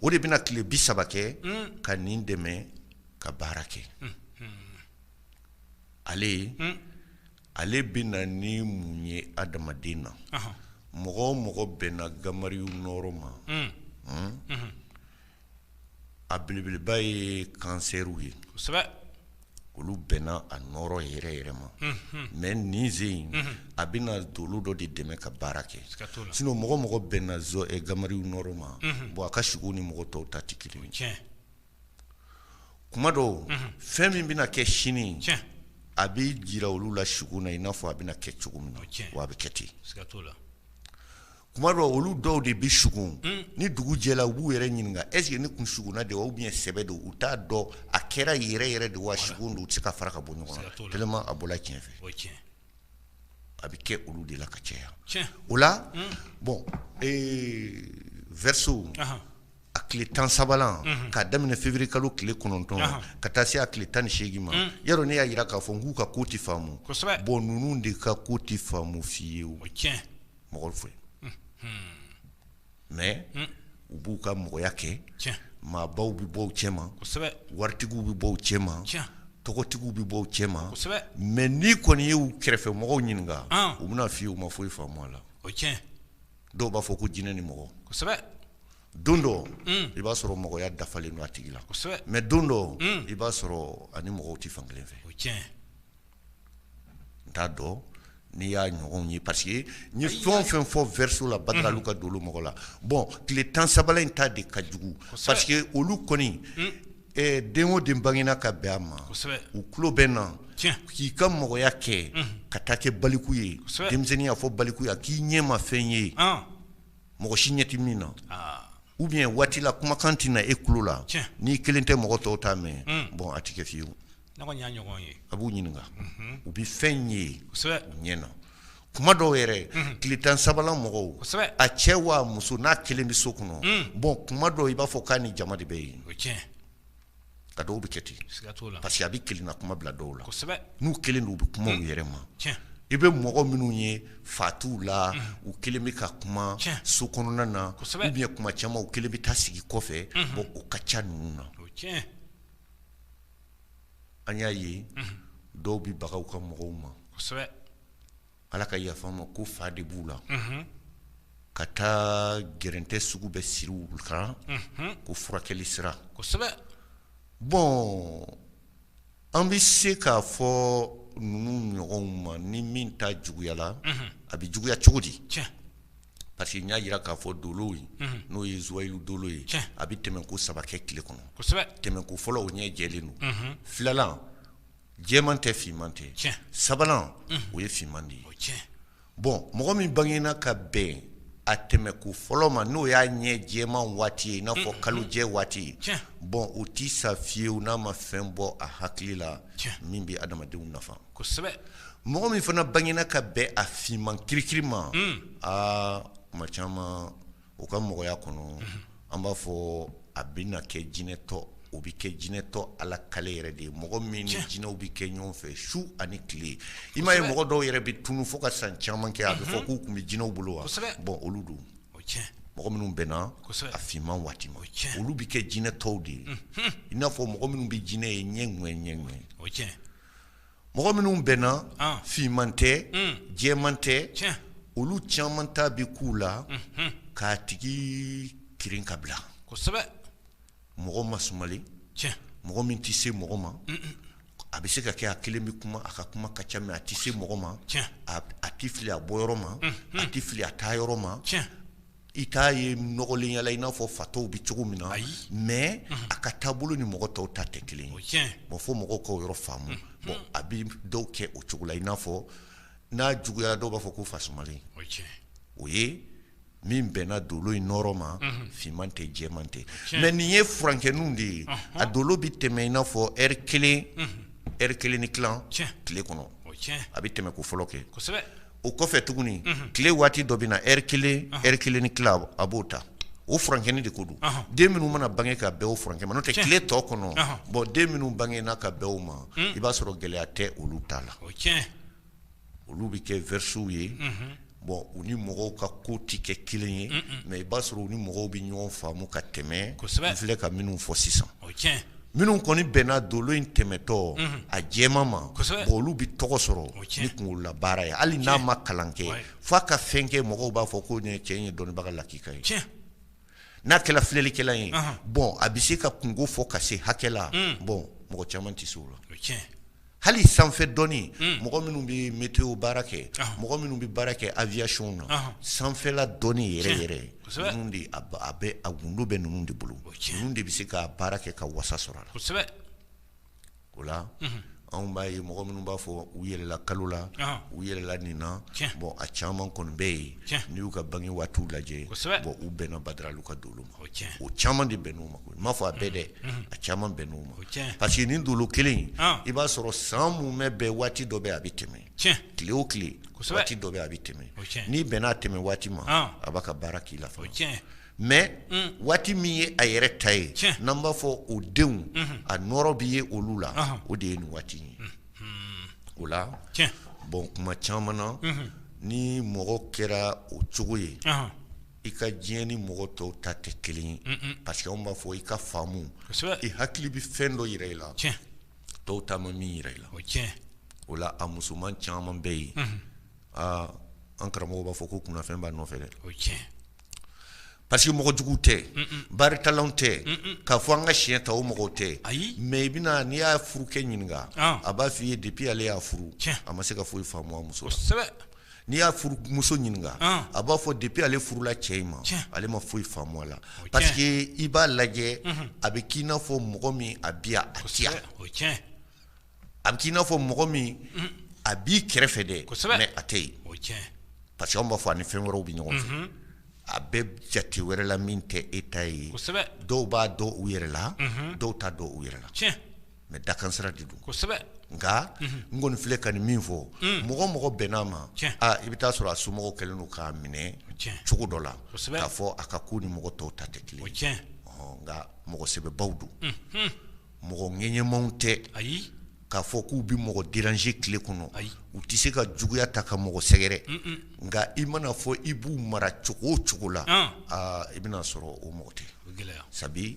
o de bɛna tile bi saba kɛ ka nin dɛmɛ ka baara kɛ ale ye ale bɛ na ni mun ye adamaden na mɔgɔ o mɔgɔ bɛnna Gamariyu nɔɔrɔ ma a belebeleba ye kansɛriw ye olu bɛnna a nɔɔrɔ yɛrɛ yɛrɛ ma mais nin sen in a bɛ na dolo dɔ de dɛmɛ ka baara kɛ sinon mɔgɔ o mɔgɔ bɛnna Gamariyu nɔɔrɔ ma bon a ka sigo ni mɔgɔ tɔw ta tɛ kelen ye kuma dɔw fɛn min bɛna kɛ sini a bɛ jira olu la sigo na i n'a fɔ a bɛna kɛ cogo min na wa a bɛ kɛ ten kuma dɔw olu dɔw de bɛ sugo ni dugu jɛla u b'u yɛrɛ ɲininka est-ce que ne kun sugona de wa ou bien sɛbɛ don u t'a dɔn a kɛra yɛrɛ yɛrɛ de wa sigo don u tɛ se k'a fara ka bɔ ɲɔgɔn na tellement a bɔla tiɲɛ fɛ a bɛ kɛ olu de la ka caya o la bon verseau a tile tan sabanan k'a daminɛ février kalo tile kɔnɔntɔn ka taa se a tile tan ni seegin ma yɔrɔ ne y'a jira k'a fɔ k'u ka ko tɛ faamu bon ninnu de ka ko tɛ faamu fiyewu mɔgɔ fɛ mais u b'u ka mɔgɔya kɛ, tiɲɛ, maabaw bɛ bɔ u cɛ ma, kosɛbɛ, waritigiw bɛ bɔ u cɛ ma, tiɲɛ, tɔgɔtigiw bɛ bɔ u cɛ ma, kosɛbɛ, mais n'i kɔni ye u kɛrɛfɛ mɔgɔw ɲininka, an, u bɛna fɔ i ye u ma foyi faamu a la, o ye tiɲɛ ye, dɔw b'a fɔ ko jinɛ ni mɔgɔ, kosɛbɛ, don dɔ, un, i b'a sɔrɔ mɔgɔya dafalen don a tigi la, kosɛbɛ, mais don dɔ, un, i b'a sɔrɔ a ni mɔgɔw tɛ fan kelen fɛ, o ye tiɲɛ ye. n t'a dɔn n'i y'a ɲɔgɔnw ye parce que n ye fɛn o fɛn fɔ verseau la Badalalu ka dolo mɔgɔ la bon tile 10 sabanan in ta de ka jugu parce que olu kɔni den o den bangera ka bɛn a ma u tulo bɛ na k'i ka mɔgɔya kɛ ka taa kɛ baliku ye denmisɛnninya fɔ baliku ye a k'i ɲɛ ma fɛn ye mɔgɔ si ɲɛ tɛ min na ou bien waati la kumakan tɛ na e tulo la n'i kelen tɛ mɔgɔ tɔw t'a mɛn bon a tɛ kɛ fiyewu. a b'u ɲininka u bɛ fɛn ye u ɲɛ na kuma dɔw yɛrɛ tile tan sabanan mɔgɔw a cɛ wa muso n'a kelen bɛ so kɔnɔ bon kuma dɔw i b'a fɔ k'a ni jama de bɛ yen a dɔw bɛ kɛ ten parce que a bɛ kelenna kuma bila dɔw la n'u kelen don u bɛ kuma u yɛrɛ ma i bɛ mɔgɔ minnu ye fatɔw la u kelen bɛ ka kuma so kɔnɔna na ou bien kuma caman u kelen bɛ taa sigi kɔfɛ bon o ka ca ninnu na an y'a ye dɔw bɛ baga u ka mɔgɔw ma ala ka yafa ma ko fa de b'u la ka taa gɛrɛntɛ sugu bɛɛ siri u kan ko furakɛli sira bon an bɛ se k'a fɔ ninnu ɲɔgɔnw ma ni min ta juguyala a bɛ juguya cogo di Parce que n y'a jira k'a fɔ dolo in n'o ye zuwayilu dolo ye a bɛ tɛmɛ ko saba kɛ tile kɔnɔ tɛmɛ ko fɔlɔ o ɲɛ jɛlen don filanan jɛman tɛ finman tɛ sabanan o ye finman de ye bon mɔgɔ min bangena ka bɛn a tɛmɛ ko fɔlɔ ma n'o y'a ɲɛ jɛman waati ye i n'a fɔ kalo jɛ waati ye bon o tɛ sa fiyewu n'a ma fɛn bɔ a hakili la min bɛ adamadenw nafa kosɛbɛ mɔgɔ min fana bangena ka bɛn a finman kirikiri ma tuma caman o ka mɔgɔya kɔnɔ an b'a fɔ a bɛ na kɛ jinɛtɔ o bɛ kɛ jinɛtɔ ala kale yɛrɛ de ye mɔgɔ min ni jinɛw bɛ kɛ ɲɔgɔn fɛ su ani tile i m'a ye mɔgɔ dɔw yɛrɛ bɛ tunun fo ka san caman kɛ a bɛ fɔ k'u tun bɛ jinɛw bolo wa bon olu don mɔgɔ minnu bɛnna a finman waati ma olu bɛ kɛ jinɛtɔw de ye i n'a fɔ mɔgɔ minnu bɛ jinɛ ye ɲɛ ni ɲɛ Mɔgɔ minnu bɛnna finman tɛ jɛman tɛ olu caman ta bɛ k'u la k'a tigi kirin ka bila mɔgɔ masumalen mɔgɔ min tɛ se mɔgɔ ma a bɛ se ka kɛ a kelen bɛ kuma a ka kuma ka ca mais a tɛ se mɔgɔ ma a tɛ fili a bɔ yɔrɔ ma a tɛ fili a taa yɔrɔ ma I t'a ye nɔgɔlen yala i n'a fɔ fatɔw bɛ cogo min na mais a ka taabolo ni mɔgɔ tɔw ta tɛ kelen ye bon fo mɔgɔw k'o yɔrɔ faamu bon a bɛ dɔw kɛ o cogo la i n'a fɔ n'a juguyara dɔw b'a fɔ ko fa sumalen o ye min bɛnna dolo in nɔɔrɔ ma finman tɛ jɛman tɛ mais nin ye furankɛninw de ye a dolo bɛ tɛmɛ i n'a fɔ heure kelen heure kelen ni tilan tile kɔnɔ a bɛ tɛmɛ ko fɔlɔ kɛ o kɔfɛ tuguni tile waati dɔ bɛ na heure kelen heure kelen ni tila a b'o ta o furankɛnin de ko don den minnu mana bange ka bɛn o furankɛ ma n'o tɛ tile tɔ kɔnɔ bon den minnu bangena ka bɛn o ma i b'a sɔrɔ gɛlɛya tɛ olu ta la olu bɛ kɛ verseaux ye bon u ni mɔgɔw ka ko tɛ kɛ kelen ye mais i b'a sɔrɔ u ni mɔgɔw bɛ ɲɔgɔn faamu ka tɛmɛ n filɛ ka minnu fɔ sisan minnu kɔni bɛnna dolo in tɛmɛtɔ a jɛman ma bon olu bɛ tɔgɔ sɔrɔ ni kunkolola baara ye hali n'a ma kalan kɛ fo a ka fɛn kɛ mɔgɔw b'a fɔ ko nin cɛ ye dɔnnibaga lakika ye n'a kɛra filɛlikɛla ye bon a bɛ se ka kunko fɔ ka se hakɛ la bon mɔgɔ caman tɛ se o la hali sanfɛ dɔnni hmm. mɔgɔ minnu bɛ météo baara kɛ ah. mɔgɔ minnu bɛ baara kɛ aviation na ah. sanfɛla dɔnni yɛrɛ yɛrɛ ninnu de a bɛ a gundo bɛ ninnu de bolo ninnu de bɛ se ka baara kɛ ka wasa sɔrɔ a la kosɛbɛ o la mhm. anw b'a ye mɔgɔ minnu b'a fɔ u yɛlɛla kalo la ah. u yɛlɛla nin na bon a caman kɔni bɛ yen n'i y'u ka bange waatiw lajɛ bon u bɛnna badaralu ka dolo ma o caman de bɛnn'u ma N m'a fɔ a bɛɛ dɛ a caman bɛnn'o ma parce que nin dolo kelen i b'a sɔrɔ san mumɛ bɛɛ waati dɔ bɛ a bɛ tɛmɛ tile o tile waati dɔ bɛ a bɛ tɛmɛ n'i bɛnn'a tɛmɛ waati ma a b'a ka baara k'i la mais waati min ye a yɛrɛ ta ye n'an b'a fɔ o denw a nɔɔrɔ bɛ ye olu la o de ye nin waati ye o la bon kuma caman na ni mɔgɔ kɛra o cogo ye i ka diɲɛ ni mɔgɔ tɔw ta tɛ kelen ye parce que anw b'a fɔ i ka faamu i hakili bɛ fɛn dɔ yira i la tɔw ta ma min yira i la o la a musoman caman bɛ yen aa an karamɔgɔ b'a fɔ ko kunfɛn b'a nɔfɛ dɛ parce que mɔgɔ jugu tɛ baritala tɛ k'a fɔ an ka siɲɛ ta o mɔgɔw tɛ mais i bɛna n'i y'a furukɛ ɲininka a b'a f'i ye depuis ale y'a furu a ma se ka foyi faamu a muso N'i y'a furumuso ɲininka a b'a fɔ depuis ale furula cɛ in ma ale ma foyi faamu a la parce que i b'a lajɛ a bɛ k'i n'a fɔ mɔgɔ min a bi a ci a bɛ k'i n'a fɔ mɔgɔ min a b'i kɛrɛfɛ dɛ mais a tɛ yen parce que an b'a fɔ a ni fɛn wɛrɛw bɛ ɲɔgɔn fɛ a bɛ jate wɛrɛ la min tɛ e ta ye dɔw b'a dɔn u yɛrɛ la dɔw t'a dɔn u yɛrɛ la mais dakan sira de don nka n kɔni filɛ ka nin min fɔ mɔgɔ mɔgɔ bɛnn'a ma i bɛ taa sɔrɔ a somɔgɔw kɛlen don k'a minɛ cogo dɔ la k'a fɔ a ka ko ni mɔgɔ tɔw ta tɛ kelen nka mɔgɔ sɛbɛbaw don mɔgɔ ŋɛɲɛmaw tɛ k'a fɔ k'u bɛ mɔgɔ déranger tile kɔnɔ u tɛ se ka juguya ta ka mɔgɔ sɛgɛrɛ nka i mana fɔ i b'u mara cogo o cogo la i bɛna sɔrɔ o mɔgɔ tɛ gɛlɛya sabu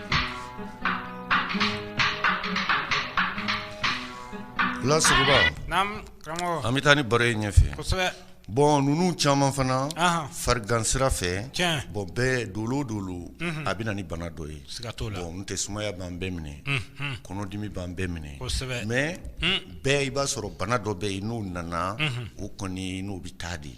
an bɛ taa ni baro ye ɲɛfɛ bon ninnu caman fana farigan sira fɛ bon bɛɛ dolo o dolo a bɛ na ni bana dɔ ye bon n tɛ sumaya b'an bɛɛ minɛ kɔnɔdimi b'an bɛɛ minɛ mais bɛɛ i b'a sɔrɔ bana dɔ bɛ yen n'o nana o kɔni n'o bɛ taa de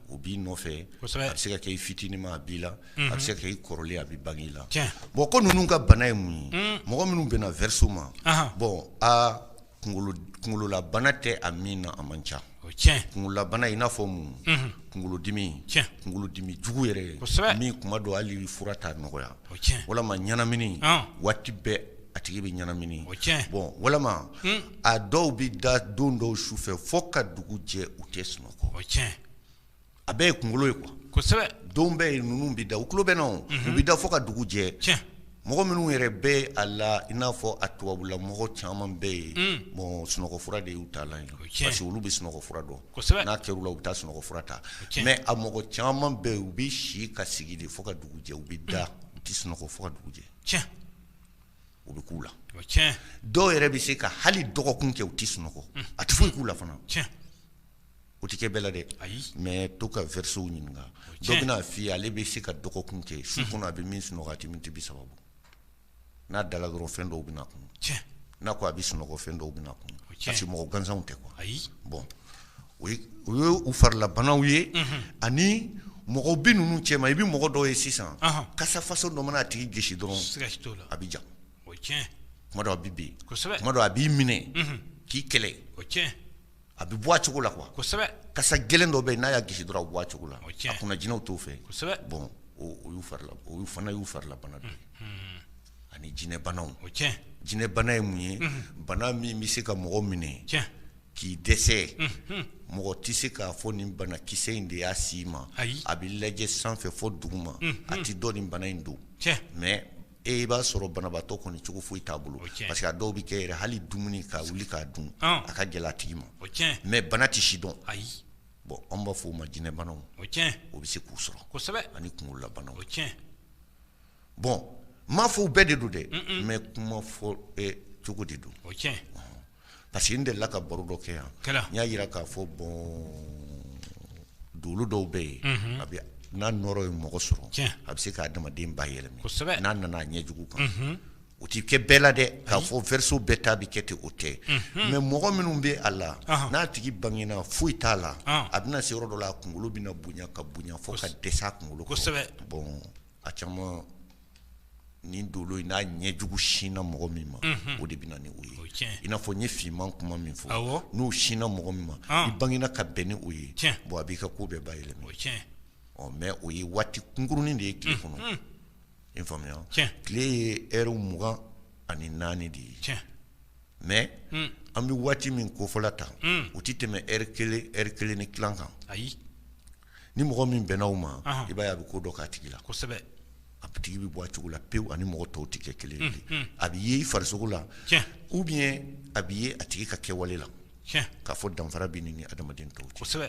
o b'i nɔfɛ a bɛ se ka kɛ i fitinin ma a b'i la a bɛ se ka kɛ i kɔrɔlen a bɛ bange i la bon ko ninnu ka bana ye mun ye mɔgɔ minnu bɛnna verseau ma bon aa kunkololabana tɛ a min na a man ca kunkololabana i n'a fɔ mun kunkolodimi kunkolodimi jugu yɛrɛ min kuma dɔ hali fura t'a nɔgɔya walima ɲɛnamini waati bɛɛ a tigi bɛ ɲɛnamini bon walima a dɔw bɛ da don dɔw su fɛ fo ka dugu jɛ u tɛ sunɔgɔ a bɛɛ ye kunkolo ye quoi kosɛbɛ don bɛɛ ninnu bɛ da u tulo bɛ na u bɛ da fo ka dugu jɛ mɔgɔ minnu yɛrɛ bɛ a la i n'a fɔ a tubabula mɔgɔ caman bɛ yen bon sunɔgɔfura de y'u taalan ye parce que olu bɛ sunɔgɔfura dɔn n'a kɛr'u la u bɛ taa sunɔgɔfura ta mais a mɔgɔ caman bɛ yen u bɛ si ka sigi de fo ka dugu jɛ u bɛ da u tɛ sunɔgɔ fo ka dugu jɛ o bɛ k'u la dɔw yɛrɛ bɛ se ka hali dɔgɔkun kɛ u tɛ sunɔgɔ a tɛ foyi k'u la fana O tɛ kɛ bɛɛ la dɛ ayi mais to ka verseauw ɲininka o ye tiɲɛ ye, dɔ bɛna fɔ i ye ale bɛ se ka dɔgɔkun kɛ su kɔnɔ a bɛ min sunɔgɔ a tɛ minutes 30 bɔ n'a dala dɔrɔn fɛn dɔw bɛna a kunun, tiɲɛ, n'a ko a bɛ sunɔgɔ fɛn dɔw bɛna a kunun, o ye tiɲɛ ye, parce que mɔgɔ gansanw tɛ quoi ayi, bon o ye o ye u farilabanaw ye, unhun, ani mɔgɔ bɛ ninnu cɛma i bɛ mɔgɔ dɔw ye sisan, ɔnhɔn, kasa façon dɔ mana a tigi gosi dɔrɔn, siga t'o la, a bɛ ja, o ye tiɲɛ ye, tuma dɔw a bɛ bin, kosɛbɛ, tuma dɔw a b'i minɛ, unhun, k'i kɛlɛ, o ye tiɲɛ ye. a bɛ bɔ a cogo la quoi kasa gɛlɛn dɔ bɛ yen n'a y'a gosi dɔrɔn a bɛ bɔ a cogo la a kunna jinɛw t'o fɛ bon olu farila o fana y'u farilabana dɔ ye ani jinɛbana jinɛbana ye mun ye bana min bɛ se ka mɔgɔ minɛ k'i dɛsɛ mɔgɔ tɛ se k'a fɔ nin banakisɛ in de y'a s'i ma a bɛ lajɛ sanfɛ fo duguma a tɛ dɔn nin bana in don mais i b'a sɔrɔ banabaatɔ kɔni cogo foyi t'a bolo parce que a dɔw bɛ kɛ yɛrɛ hali dumuni ka wuli k'a dun a ka gɛlɛn a tigi ma mais bana tɛ si dɔn ayi bon an b'a fɔ o ma jinɛbanaw o bɛ se k'u sɔrɔ ani kunkololabana o tiɲɛ bon n m'a fɔ u bɛɛ de don dɛ mais kuma fɔ cogo de don o parce que n delila ka baro dɔ kɛ yan, kɛra, n y'a jira k'a fɔ bon dolo dɔw bɛ yen, unhun, a bɛ n'a nɔɔrɔ ye mɔgɔ sɔrɔ, tiɲɛ, a bɛ se k'a adamaden bayɛlɛma, kosɛbɛ, n'a nana a ɲɛ jugu kan, unhun, o tɛ kɛ bɛɛ la dɛ, k'a fɔ verseau bɛɛ ta bɛ kɛ ten o tɛ, unhun, mais mɔgɔ minnu bɛ a la, ɔnhɔn, n'a tigi bangena foyi t'a la, ɔn, a bɛna se yɔrɔ dɔ la a kunkolo bɛna bonya ka bonya fo ka dɛsɛ a kunkolo kɔrɔ, kosɛbɛ, bon A caman nin dolo in n'a ɲɛ jugu sinna mɔgɔ min ma o de bɛ na ni o ye i n'a fɔ n ye finman kuma min fɔ n'o sinna mɔgɔ min ma i bangena ka bɛn ni o ye bon a b'i ka ko bɛɛ bayɛlɛma mais o ye waati kunkurunin de ye tile kɔnɔ i faamuya tile ye heure mugan ani naani de ye mais an bɛ waati min kofɔ la tan o tɛ tɛmɛ heure kelen ni tila kan ayi ni mɔgɔ min bɛnna o ma i b'a ye a bɛ ko dɔ k'a tigi la kosɛbɛ a tigi bɛ bɔ a cogo la pewu a ni mɔgɔ tɔw tɛ kɛ kelen ye a bɛ ye i farisogo la ou bien a bɛ ye a tigi ka kɛwale la k'a fɔ danfara bɛ nin ni adamaden tɔw cɛ kosɛbɛ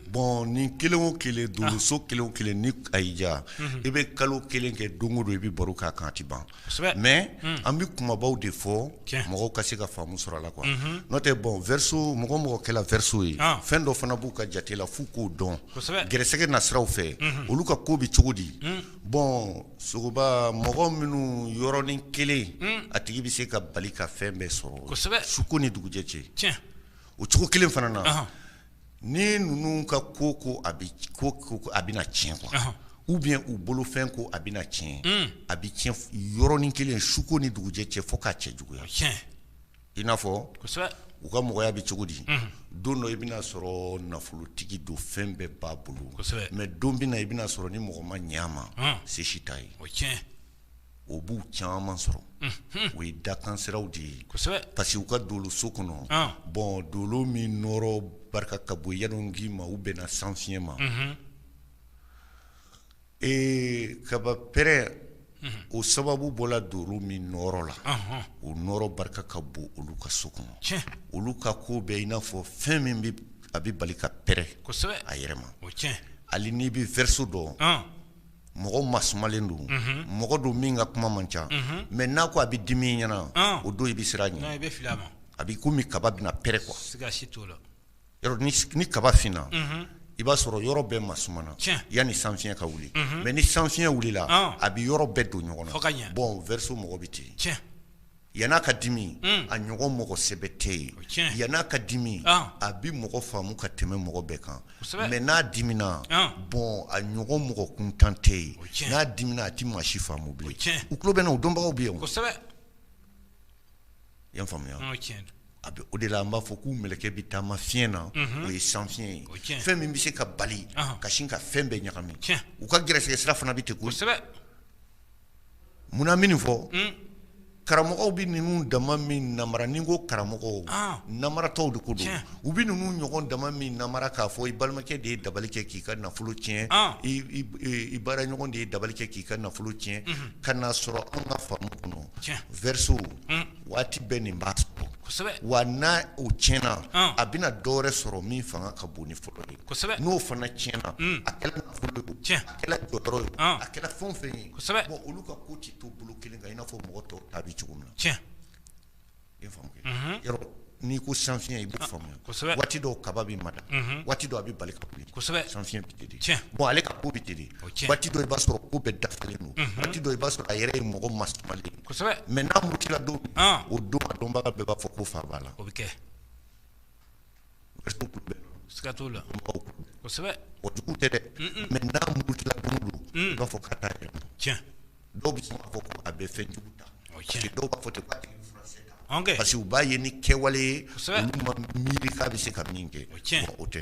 Bɔn ni kelen o kelen dolo so kelen o kelen ni a y'i diya i bɛ kalo kelen kɛ don o don i bɛ baro k'a kan a tɛ ban mɛ an bɛ kumabaw de fɔ mɔgɔw ka se ka faamu sɔrɔ a la quoi n'o tɛ bɔn verseau mɔgɔ o mɔgɔ kɛla verseau ye fɛn dɔ fana b'u ka jate la f'u k'o dɔn gɛrɛsɛgɛ nasiraw fɛ olu ka ko bɛ cogo di bɔn sogoba mɔgɔ minnu yɔrɔnin kelen a tigi bɛ se ka bali ka fɛn bɛɛ sɔrɔ suko ni dugujɛ cɛ o cogo kelen fana na Ni ninnu ka ko ko a a bɛna tiɲɛ quoi ou bien u bolofɛn ko a bɛna tiɲɛ a bɛ tiɲɛ yɔrɔnin kelen suko ni dugujɛ cɛ fo k'a cɛ juguya i n'a fɔ u ka mɔgɔya bɛ cogo di don dɔ i bɛna sɔrɔ nafolotigi don fɛn bɛɛ b'a bolo mɛ don bɛna i bɛna sɔrɔ ni mɔgɔ ma ɲɛ a ma se si t'a ye o b'u caman sɔrɔ o ye dakansiraw de ye parce que u ka dolo so kɔnɔ bɔn dolo min nɔɔrɔ barika ka bon yɛlɛ k'i ma u bɛnna san fiɲɛ ma ee kaba pɛrɛn o sababu bɔla dolo min nɔɔrɔ la o nɔɔrɔ barika ka bon olu ka so kɔnɔ olu ka ko bɛ i n'a fɔ fɛn min bɛ a bɛ bali ka pɛrɛn a yɛrɛ ma hali n'i bɛ verseau dɔn mɔgɔ masumalen don mɔgɔ don min ka kuma man ca mɛ n'a ko a bɛ dimi ɲɛna o don i bɛ siran a ɲɛ a bɛ komi kaba bɛna pɛrɛn kuwa ni kaba finna i b'a sɔrɔ yɔrɔ bɛɛ masumana yanni san fiɲɛ ka wuli mɛ ni san fiɲɛ wulila a bɛ yɔrɔ bɛɛ don ɲɔgɔn na bɔn verseau mɔgɔ bɛ ten Yann'a ka dimi a ɲɔgɔn mɔgɔ sɛbɛ tɛ yen yann'a ka dimi a bɛ mɔgɔ faamu ka tɛmɛ mɔgɔ bɛɛ kan mɛ n'a dimina bɔn a ɲɔgɔn mɔgɔ kuntan tɛ yen n'a dimina a tɛ maa si faamu bilen u tulo bɛ n na o dɔnbaw bɛ yen yan faamuya a bɛ o de la an b'a fɔ k'u mɛlɛkɛ bɛ taama fiɲɛ na o ye san fiɲɛ ye fɛn min bɛ se ka bali ka sin ka fɛn bɛɛ ɲagami u ka gɛrɛsɛgɛ sira fana bɛ ten kosɛbɛ munna min fɔ karamɔgɔw bɛ ninnu dama minɛ namara ni ko karamɔgɔw namaratɔw de ko don u bɛ ninnu ɲɔgɔn dama minɛ namara k'a fɔ i balimakɛ de ye dabali kɛ k'i ka nafolo tiɲɛ i baara ɲɔgɔn de ye dabali kɛ k'i ka nafolo tiɲɛ ka n'a sɔrɔ an ka faamu kɔnɔ verseau waati bɛɛ nin b'a sɔrɔ wa n'o tiɲɛna a bɛna dɔwɛrɛ sɔrɔ min fanga ka bon ni fɔlɔ ye n'o fana tiɲɛna a kɛla nafolo ye a kɛla jɔyɔrɔ ye a kɛla fɛn o fɛn ye bɔn olu ka ko tɛ to bolo kelen kan i n'a fɔ mɔgɔ tɔw ta bɛ cogo min na yɔrɔ n'i ko san fiɲɛ i b'o faamuya waati dɔw kaba bɛ mada waati dɔ a bɛ bali ka wuli san fiɲɛ bɛ ten bɔn ale ka ko bɛ ten waati dɔ i b'a sɔrɔ ko bɛɛ dafalen don waati dɔ i b'a sɔrɔ a yɛrɛ ye mɔgɔ masumalen mɛ n'a murutila don o don a dɔnbaga bɛɛ b'a fɔ ko fa b'a la o bɛ kɛ Siga t'o la kosɛbɛ o jugu tɛ dɛ mɛ n'a murutila don min don i b'a fɔ k'a t'a yɛrɛ ma cɛ dɔw bɛ sɔn k'a fɔ ko a bɛ fɛn jugu ta cɛ dɔw b'a fɔ ten k'a tigi furakisɛ ta parce que u b'a ye ni kɛwale ye olu ma miiri k'a bɛ se ka min kɛ o cɛn o tɛ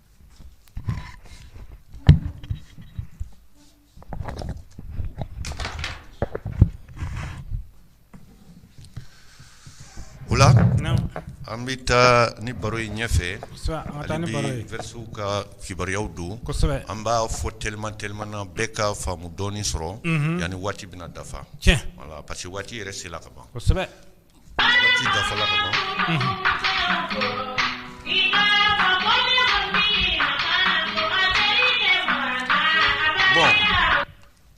O la an bɛ taa ni baro ye ɲɛfɛ hali bi verseauw ka kibaruyaw don an b'a fɔ teliman teliman na bɛɛ ka faamu dɔɔnin sɔrɔ yanni waati bɛna dafa voilà parce que waati yɛrɛ sela ka ban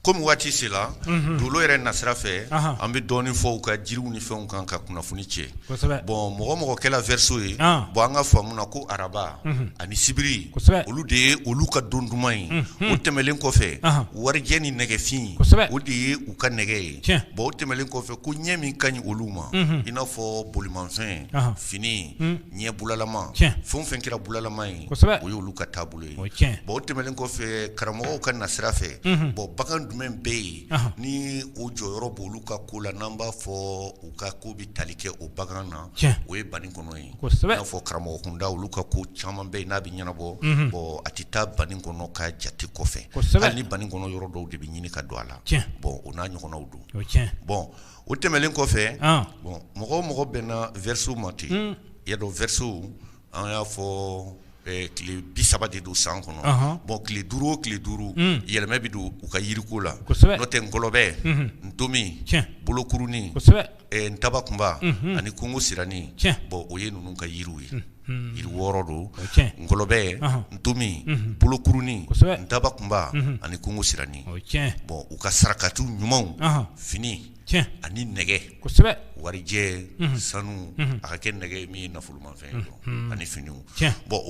Kɔmi waati sela dolo yɛrɛ nasira fɛ an bɛ dɔɔnin fɔ u ka jiriw ni fɛnw kan ka kunnafoni cɛ bɔn mɔgɔ o mɔgɔ kɛla verseau ye bɔn an ka faamu na ko araba ani sibiri olu de ye olu ka don duman ye o tɛmɛlen kɔfɛ warijɛ ni nɛgɛfin o de ye u ka nɛgɛ ye bon o tɛmɛnlen kɔfɛ ko ɲɛ min ka ɲi olu ma i n'a fɔ bolimafɛn fini ɲɛ bulalama fɛn o fɛn kɛra bulalama ye o y'olu ka taabolo ye bon o tɛmɛnen kɔfɛ karamɔgɔw ka nasira fɛ bon bagan jumɛn bɛ yen ni o jɔyɔrɔ b' olu ka ko la n'an b'a fɔ u ka ko bɛ tali kɛ o bagan na o ye banikɔnɔ ye i n'a fɔ karamɔgɔ kunda olu ka ko caman bɛ yen n'a bɛ ɲɛnabɔ bɔn a tɛ taa banikɔnɔ ka jate kɔfɛ hali ni banikɔnɔ yɔrɔ dɔw de bɛ ɲini ka don a la bɔn o n'a ɲɔgɔnnaw don bɔn o tɛmɛnen kɔfɛ bɔn mɔgɔ o mɔgɔ bɛnna verseau ma ten i y'a dɔn verseau an y'a fɔ tile bi saba de don san kɔnɔ bɔn tile duuru o tile duuru yɛlɛma bɛ don u ka yiriko la n'o tɛ ngɔlɔbɛ ntomi bolokuruni ntabakunba ani kungo sirani bɔn o ye ninnu ka yiriw ye yiri wɔɔrɔ don ngɔlɔbɛ ntomi bolokuruni ntabakunba ani kungo sirani bɔn u ka sarakati ɲumanw fini ani nɛgɛ warijɛ sanu a ka kɛ nɛgɛ min ye nafolomafɛn don ani fini bɔn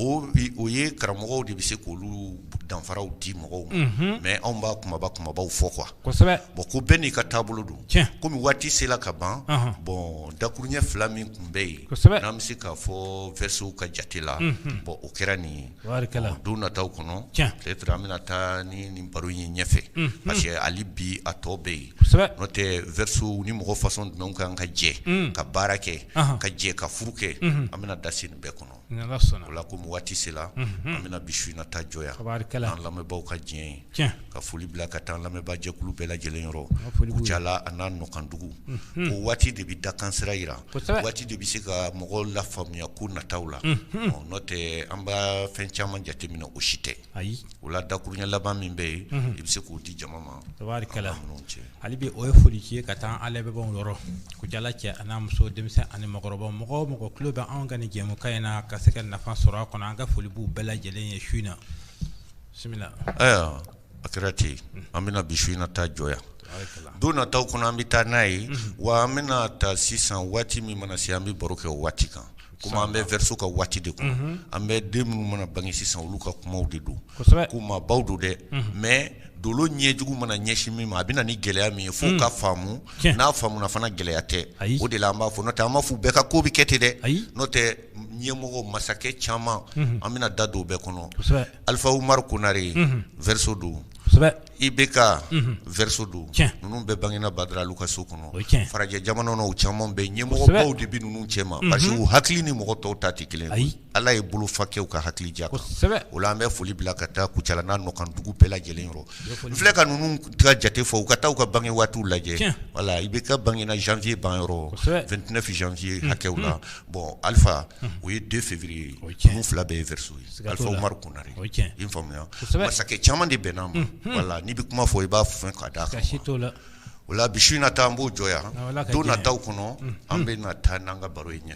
o ye karamɔgɔw de bɛ se k' olu danfaraw di mɔgɔw ma mɛ anw b'a kunba kunbabaw fɔ qu ko bɛɛ n'i ka taabolo don kɔmi waati sela ka ban bɔn dakuruɲɛ fila min tun bɛ yen n'an bɛ se k'a fɔ verseauw ka jate la bɔn o kɛra nin ye don nataw kɔnɔ peut-être an bɛna taa ni nin baro ye ɲɛfɛ parce que hali bi a tɔ bɛ yen n'o tɛ verseauw ni mɔgɔ façon jumɛnw kan ka jɛ ka baara kɛ ka jɛ ka furu kɛ an bɛna da se nin bɛɛ kɔnɔ la komi waati sera an bɛna bi su in na ta jɔ yan an lamɛnbaaw ka diɲɛ ye ka foli bila ka taa lamɛnbaajɛkulu bɛɛ lajɛlen yɔrɔ Kucala a n'a nɔkandugu ko waati de bɛ dakan sira jira waati de bɛ se ka mɔgɔw lafaamuya ko nataw la n'o tɛ an bɛ fɛn caman jateminɛ o si tɛ ayi o la dakuruɲɛ laban min bɛ yen i bɛ se k'o di jama ma hali bi o ye foli ye ka taa an lamɛnbaaw yɔrɔ Kucala cɛ a n'a muso denmisɛnnin ani mɔgɔkɔrɔba mɔgɔ o mɔgɔ tulo bɛ anw ka nin jɛmukan in na ka se ka nafa sɔrɔ a kɔnɔ an ka foli b'u bɛɛ lajɛlen ye su in na ayiwa a kɛra ten an bɛna bi su in na ta jɔ yan don nataw kɔnɔ an bɛ taa n'a ye wa an bɛna taa sisan waati min mana se an bɛ baro kɛ o waati kan Comme an bɛ verseau ka waati de kɔnɔ, unhun, an bɛ den minnu mana bange sisan olu ka kumaw de don, kosɛbɛ, ko maabaw don dɛ, unhun, mais dolo ɲɛjugu mana ɲɛsin min ma a bɛ na ni gɛlɛya min ye f'o ka faamu, tiɲɛ, n'a faamuna fana gɛlɛya tɛ, ayi, o de la an b'a fɔ n'o tɛ an m'a fɔ u bɛɛ ka ko bɛ kɛ ten dɛ, ayi, n'o tɛ ɲɛmɔgɔ masakɛ caman, unhun, an bɛna da don o bɛɛ kɔnɔ, kosɛbɛ, Alifa Umaru Konare, unhun, verseau don, kosɛbɛ IBK verseau don ninnu bɛɛ bangena Badara Alu ka so kɔnɔ farajɛ jamana o caman bɛ ɲɛmɔgɔbaw de bɛ ninnu cɛma parce que u hakili ni mɔgɔ tɔw ta tɛ kelen ayi ala ye bolofa kɛ u ka hakili ja kan o la an bɛ foli bila ka taa Kucala n'a nɔkandugu bɛɛ lajɛlen yɔrɔ filɛ ka ninnu ka jate fɔ u ka taa u ka bange waati lajɛ voilà IBK bangena janvier banyɔrɔ vingt-neuf janvier hakɛw la bon Alifa o ye deux février nin fila bɛɛ ye verseau ye Alifa Umaru Konare i faamuya masakɛ caman de bɛnna ma voilà n'i bɛ kuma fɔ i b'a fɔ ka d'a kan o la bi su in na ta an b'o jɔ yan don nataw kɔnɔ an bɛna taa n'an ka baro ye ɲɛ